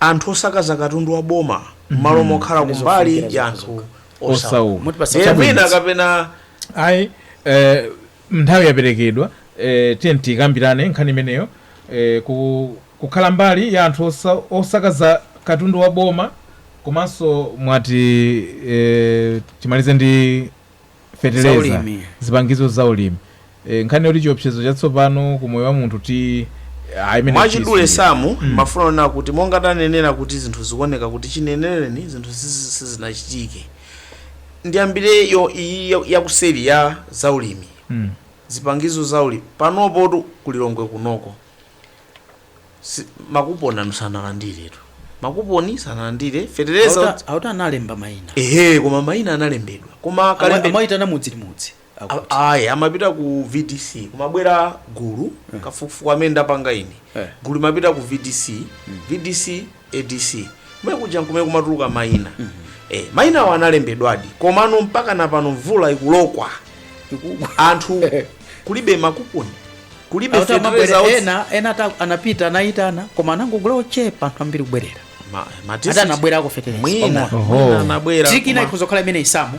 anthu osakaza katundu wa boma mmalo mokhala Ndi kumbali zofunikira ya zokha anthu zokha. osauka Osauka. Mutipatsa Ndiye chabwino. mwina kapena ayi eh, nthawi yaperekedwa eh, tiyeni tikambirane nkhani imeneyo eh, ku, kukhala mbali ya anthu osa, osakaza katundu wa boma komanso mwati eh, timalize ndi feteleza Zaulimi. zipangizo za ulimi e, nkhani yoti chiopsezo chatsopano ku moyo wa munthu ti ah, imene mwachidule tisi- samu mumafuna kunena kuti monga tanenera kuti zinthu zikuoneka kuti chinenereni zinthu sizi- sizinachitike ndiyambireyo iyi ya- yakuseri ya zaulimi Mm. zipangizo zaulimi panopotu ku Lilongwe kunoko Si- makuponi anu sanalandiretu makuponi sanalandire fetereza Auta- auta analemba maina ehe koma maina analembedwa koma kalembe amaitana mudzi ndi mudzi akuti. A- ayi amapita ku vdc kumabwera gulu kafukufuku amene ndapanga ine Eh. gulu limapita ku vdc vdc adc kumene kuja nkumene kumatuluka maina eh, mainawo analembedwadi komano mpaka napano mvula ikulokwa anthu kulibe makuponi kulibe Auta mabwere- fetereza otsi- ena ena ata- anapita anaitana koma anangogula ochepa anthu ambiri kubwerera Ma- ma ati district- anabwerako fetereza mwina pamodzi. Oho. mwina anabwera tiki ina koma- ikhoza kukhala imene isamu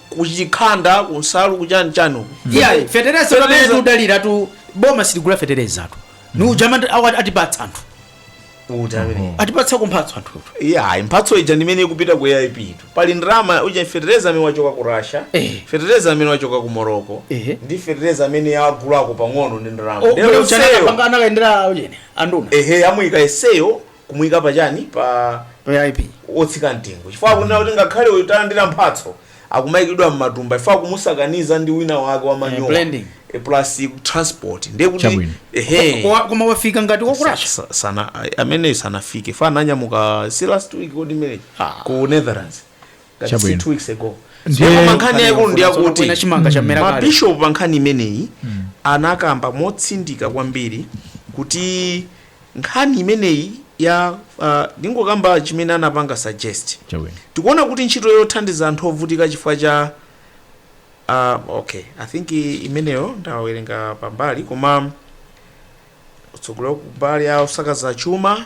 kuchikhanda kumsalu kuchani chani uku iyayi fetereza pamene Fetereza. tiudalira tu boma sitigula fetereza tu ni ujama ndi- awa- atipatsa anthu atipatsa kumphatso anthu iyayi mphatso ija ndimene ikupita ku aip tu pali ndalama uja fetereza amene wachoka ku russia Eh. fetereza amene wachoka ku morocco Eh. ndi fetereza amene agulako pang'ono ndi ndalama Ndero seyo. anakayendera ujene anduna ehe amuyika eseyo kumuika pa chani pa aip otsika mtengo chifukwa akunena kuti ngakhale uyu talandira mphatso akumaikidwa mmatumba chifukwa akumusakaniza ndi wina wake wa manyowa blending. Eh, plus transport ndiye kuti Chabwino. ehe Koma- koma wafika ngati wa ku russia Sa- sa- sana a- amene sanafike fa ananyamuka si last week kodi imene ku netherlands That is Chabwino. two weeks ago Ndiye- Ndipo ma nkhani yaikulu ndi Kuna yakuti chimanga chamera kale. mabishopu pa nkhani imeneyi anakamba motsindika kwambiri kuti nkhani imeneyi ya uh, ndingokamba chimene anapanga suggest Chabwino. tikuona kuti ntchito yothandiza anthu ovutika chifukwa cha uh, okay i think i- imeneyo ndawerenga pambali koma utsogoleri kumbali ya osakaza chuma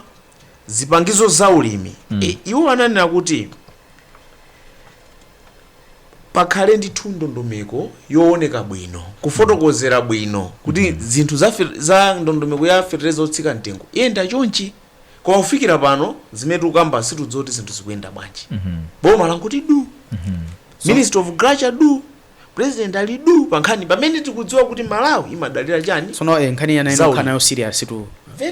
zipangizo za ulimi mm. e, iwo ananena kuti pakhale ndithu ndondomeko yowoneka bwino, kufotokozera bwino kuti zinthu za za ndondomeko ya fetereza otsika mtengo iyenda chonchi koma kufikira pano zimene tikukamba sitikudziwa kuti zinthu zikuyenda bwanji. Boma langoti du, Ministry of Agriculture du, President ali duu pa nkhani pamene tikudziwa kuti Malawi imadalira chani? Tsono eh, nkhani yayenera inokhala nayo serious tu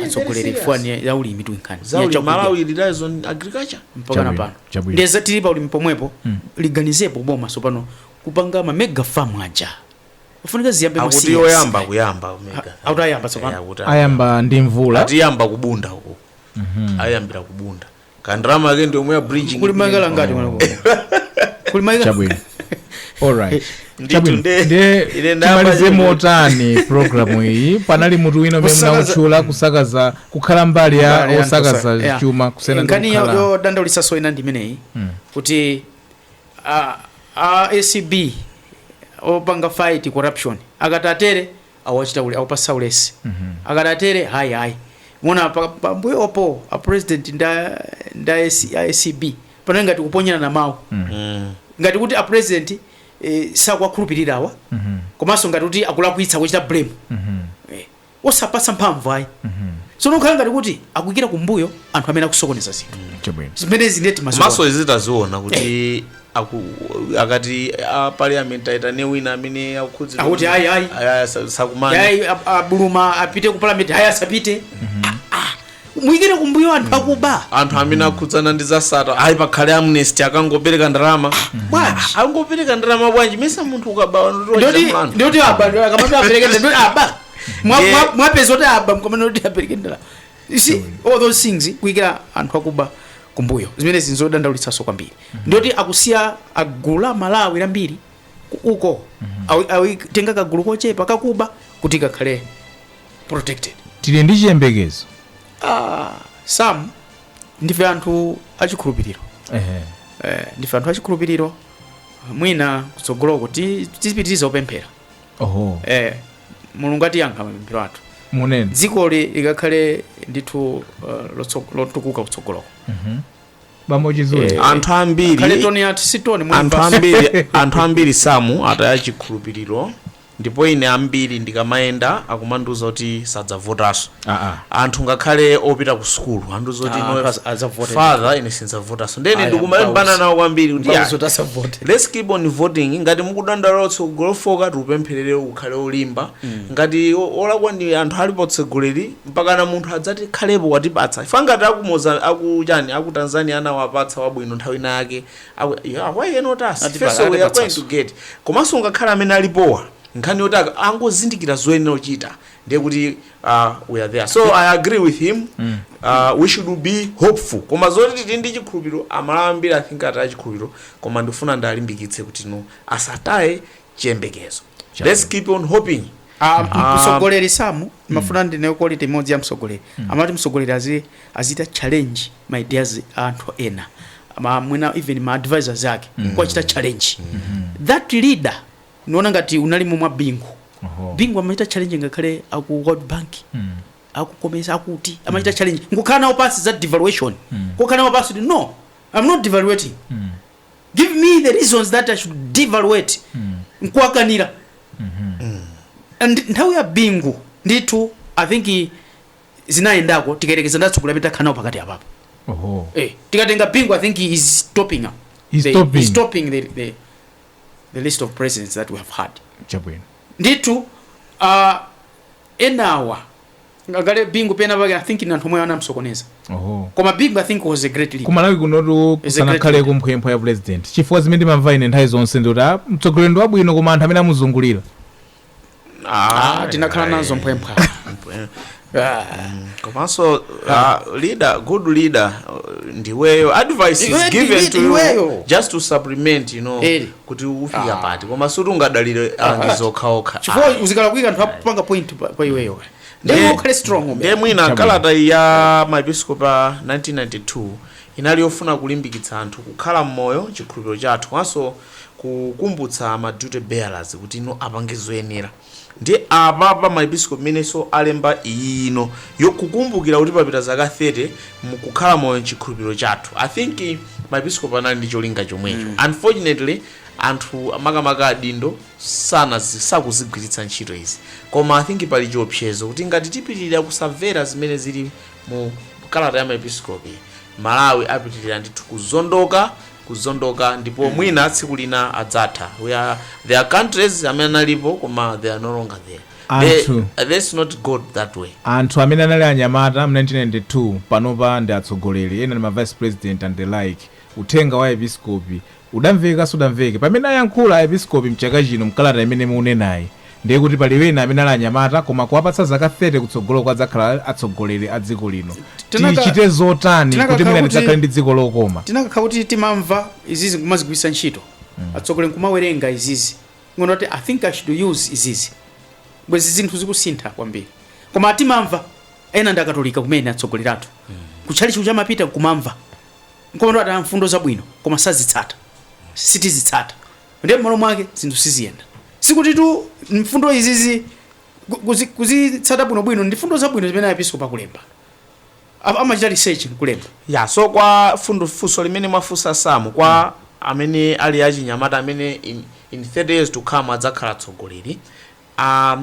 atsogoleri chifukwa ya ulimi tu nkhani zaulimi Malawi relies on agriculture mpaka na pano ndiye za tili pa ulimi pomwepo mm. liganizepo boma sopano kupanga ma mega farm aja afunika ziyambe masiku akuti yoyamba kuyamba mega akuti ayamba sopano eh, ayamba ndi mvula ati ayamba ku bunda uko mm -hmm. ayambira ku bunda kandrama kake ndi omwe ya bridging kuli maika ngati mwana kuno kuli maika chabwino alright Ndithu chabwino nde- nde ine ndayamba timalize chimwe. motani programu iyi panali mutu wina umene Kusakaza- munautchula kusakaza kukhala mbali ya Mbali ya osakaza ntosa- yeah. chuma kusiya ndi nkhani yo- kukhala yodandaulitsanso ina ndi imeneyi kuti a- a acb opanga fight corruption akatatere awachita uli awapatsa ulesi akatatere hayi hayi muona pa- pambuyopo a president ndi a ndi a AC a acb panali ngati kuponyerana mawu ngati kuti a president eh, sakuwakhulupirirawa komanso ngati kuti akulakwitsa kuchita blame eh, osapatsa mphamvu ayi tsono khala ngati kuti akuikira kumbuyo anthu amene akusokoneza zinthu chabwino zimenezi ndiye timazionanso izi taziona kuti akuti akati a parliament aitane wina amene akukhudzidwa Akuti ndi- ayi, ayi. ayi, ayi, sa- sakumana ayi a Buluma apite ku parliament ayi asapite muikire kumbuyo anthu akuba anthu amene akhudzana ndi zasata ayi pakhale amnesty akangopereka ndalama bwanji angopereka ndalama bwanji mesa munthu ukaba ndoti ndoti aba akamati apereke ndalama aba Mwa- Yeah. mwa- mwapeza kuti aba mpakana kuti apereke ndalama You see, all those things kuikira anthu akuba kumbuyo zimenezi nzodandaulitsanso kwambiri ndiye kuti akusiya gulu la aMalawi lambiri ku- uko Awi- awitenga kagulu kochepa kakuba kuti kakhale protected tili ndi chiyembekezo ah, sam ndife anthu achikhulupiriro Ehe. eh, ndife anthu achikhulupiriro mwina kutsogoloko ti- tipitiriza kupemphera oho eh, mulungu atiyankha mapemphero athu mwina dzikoli likakhale ndithu uh, lotso- lotukuka kutsogoloko bambo chizule Eh, anthu khale ambiri tone yathu si tone muli anthu basi. ambiri anthu ambiri sam ataya chikhulupiriro ndipo ine ambiri ndikamayenda akumandiuza kuti sadzavotanso anthu ngakhale opita ku sukulu anandiuza kuti Ah, inuyo- pas- adzavote. father ine sindzavotanso ndene Aya, ndikumalimbana pausi. nawo kwambiri kuti Pausi, ah, utasavote. let's keep on voting ngati mukudandaula utsogoleri ofooka tiupempherere ukhale olimba ngati o- olakwa ndi anthu ali pa utsogoleri mpakana munthu adzatikhalepo watipatsa ife ngati akumuza akuchani aku tanzania anawapatsa wabwino nthawi ina yake why not us Atipa- first we are going atipatsanso. to get komanso ngakhale amene alipowa nkhani yoti a ak- angozindikira zoyenera kuchita ndiye kuti uh, we are there so i agree with him mm. uh, we should be hopeful koma zoti tili ndi chikhulupiriro aMalawi ambiri i think ataya chikhulupiriro koma ndifuna ndiwalimbikitse kuti no asataye chiyembekezo let's keep on hoping Ah, Ah. msogoleri sam amafuna ndiye quality imodzi ya msogoleri amati msogoleri azi azichita challenge ma ideas a anthu ena ma mwina even ma advisors ake kuwachita challenge that leader Ndikuona ngati unalimo mwa Bingu. Oho. Bingu amachita challenge ngakhale aku World Bank. Mm. aku COMESA akuti amachita mm. challenge nkukhala nawo pansi za devaluation mm. kukhala nawo pansi kuti no i'm not devaluating mm. give me the reasons that i should devaluate mm. nkuwakanira and nthawi ya bingu ndithu i think i- zinayendako tikayerekeza ndi atsogoleri amene takhala nawo pakati apapo Oho. eh, tikatenga bingu i think he is topping up He's The- topping. he's topping the, the, the list of presidents that we have had chabwino ndithu uh, enawa ngakhale bingu pena pake i think ndi anthu omwe anamsokoneza oho koma bingu i think was a great leader kumalawi kunotu Is a kusanakhaleko great- mphwephwa ya president chifukwa zimene ndimamva ine nthawi zonse ndikuti ah, mtsogoleri ndi wabwino koma anthu amene amuzungulira Ah, tinakhala nazo mphwemphwa Ah. komanso ah, leader good leader uh, ndiwe yo advice Iwe is ndi given lead to you iweyo. just to supplement you know Eh. kuti ufika pati koma suti ungadalire alangizi okhaokha chifukwa uzikala kuika anthu apanga point pa pa iweyo Ndiye- ndiye ukhale strong ndiye umene mwina Chabwino. kalata ya maepiskopi 1992 inali yofuna kulimbikitsa anthu kukhala mmoyo chikhulupiriro chathu komanso kukumbutsa ma duty bearers kuti no apange zoyenera ndiye apapa maepiskopi imenenso alemba iyi ino yokukumbukira kuti papita zaka 30 mkukhala moyo mchikhulupiriro chathu i think maepiskopi anali ndi cholinga chomwecho mm. unfortunately anthu makamaka adindo sana sakuzigwiritsa ntchito izi koma i think pali chiopsezo kuti ngati tipitirira kusamvera zimene zili Mu kalata ya maepiskopi, Malawi apitilira ndithu kuzondoka, kuzondoka ndipo mwina tsiku lina adzatha. We are, there are countries amene analipo koma they are no longer there. They, Anthu. let's not go that way. anthu amene anali anyamata mu 1992 panopa ndi atsogoleri ena ndi ma vice president and the like uthenga wa aepiskopi Udamveka sudamveke pamene ayankhula aepiskopi mchaka chino mkalata imene mukunenayi ndiye kuti pali wena amene ali anyamata koma kuwapatsa zaka 30 kutsogoloko adzakhala atsogoleri a dziko lino tichite zotani kuti mwina tidzakhale ndi dziko lokoma. Tinakakhala kuti timamva izizi nkumazigwiritsa ntchito atsogoleri nkumawerenga izizi nkuona kuti i think i should use izizi bwezi zinthu zikusintha kwambiri koma timamva ena ndi akatolika kumene atsogoleri athu kutchalitchi kuja amapita nkumamva nkumati ati mfundo zabwino koma sazitsata, sitizitsata ndiye mmalo mwake zinthu siziyenda. Sikutitu mfundo izizi kuzi kuzitsata bwinobwino ndi mfundo zabwino zimene aepiskopi akulemba apa amachita research nkulemba. Ya, so kwa fundu funso limene mwafunsa Sam kwa amene ali achinyamata amene in in 30 years to come adzakhala atsogoleri, a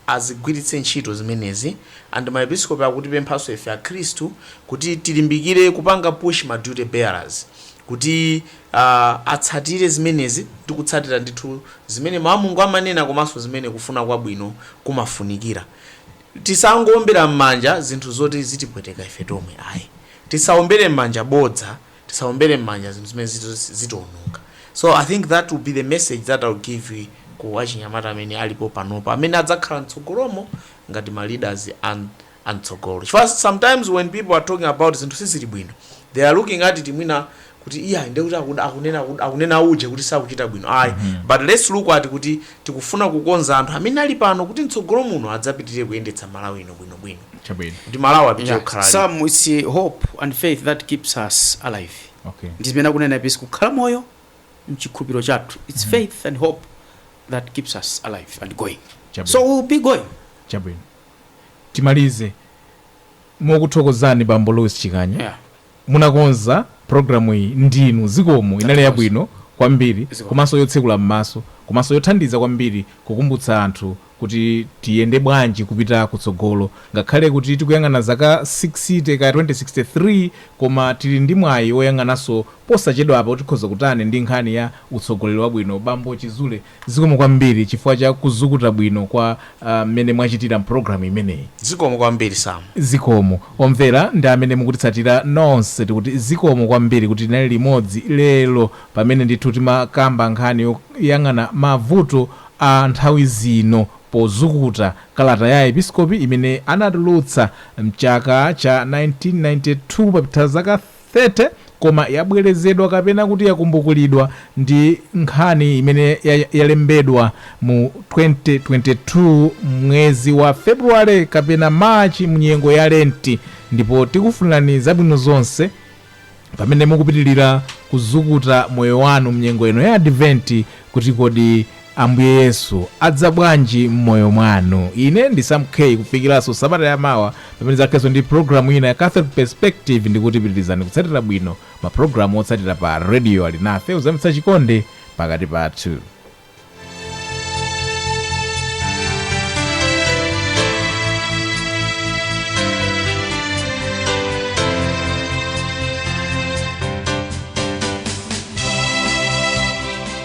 azigwiritse ntchito zimenezi and maepiskopi akutipemphanso ife akhristu kuti tilimbikire kupanga push ma duty bearers kuti aah atsatire zimenezi ndi kutsatira ndithu zimene mawu a Mulungu amanena komanso zimene kufuna kwabwino kumafunikira. Tisangoombera mmanja zinthu zoti zitipweteka ife tomwe ayi. Tisaombere mmanja bodza tisaombere mmanja zinthu zimene ziti zitiononga so i think that will be the message that I will give you ku achinyamata amene alipo panopa amene adzakhala mtsogolomo ngati ma leaders amtsogolo chifukwa sometimes when people are talking about zinthu sizili bwino they are looking at it mwina kuti iyayi ndekuti akunena akunena uje kuti sakuchita bwino ayi mm -hmm. but let's look at kuti Tikufuna kukonza anthu amene ali pano kuti mtsogolo muno adzapitilire kuyendetsa Malawi ino bwino bwino. Chabwino. Kuti Malawi apitire Yeah. kukhala ali. Some it's uh, hope and faith that keeps us alive. Okay. Ndi zimene akunena Aepiskopi kukhala moyo mchikhulupiriro chathu. It's faith and hope that keeps us alive and going. Chabwino. So we'll be going. Chabwino. Timalize mokuthokozani Bambo Louis Chikanya. Yeah. Munakonza program iyi ndinu zikomo inali yabwino kwambiri komanso yotsekula mmaso komanso yothandiza kwambiri kukumbutsa anthu kuti tiyende bwanji kupita kutsogolo ngakhale kuti tikuyang'ana zaka 60 kaya 2063 koma tili ndi mwayi oyang'ananso posachedwapa kuti tikhoza kutani ndi nkhani ya utsogoleri wabwino bambo chizule Zikomo kwambiri chifukwa cha kuzukuta bwino kwa mmene mwachitira mpulogalamu imeneyi. Zikomo kwambiri Sam. Zikomo omvera ndi amene mukutitsatira nonse tikuti zikomo kwambiri kuti tinali limodzi lero pamene ndithu timakamba nkhani yoyang'ana mavuto a nthawi zino pozukuta kalata ya Aepiskopi imene anatulutsa mchaka cha 1992 papita zaka 30. 30 koma yabwerezedwa kapena kuti yakumbukulidwa ndi nkhani imene yalembedwa mu 2022 mwezi wa February kapena March mu nyengo ya Lenti ndipo tikufunirani zabwino zonse pamene mukupitilira kuzukuta moyo wanu mnyengo ino ya Adventi kuti kodi Ambuye Yesu adza bwanji mmoyo mwanu? Ine ndi Sam K kufikiranso sabata ya mawa pamene ndidzakhalenso ndi programu ina ya Catholic Perspective ndikuti pitirizani kutsatira bwino ma programu otsatira pa radio Alinafe kuzamitsa chikondi pakati pathu.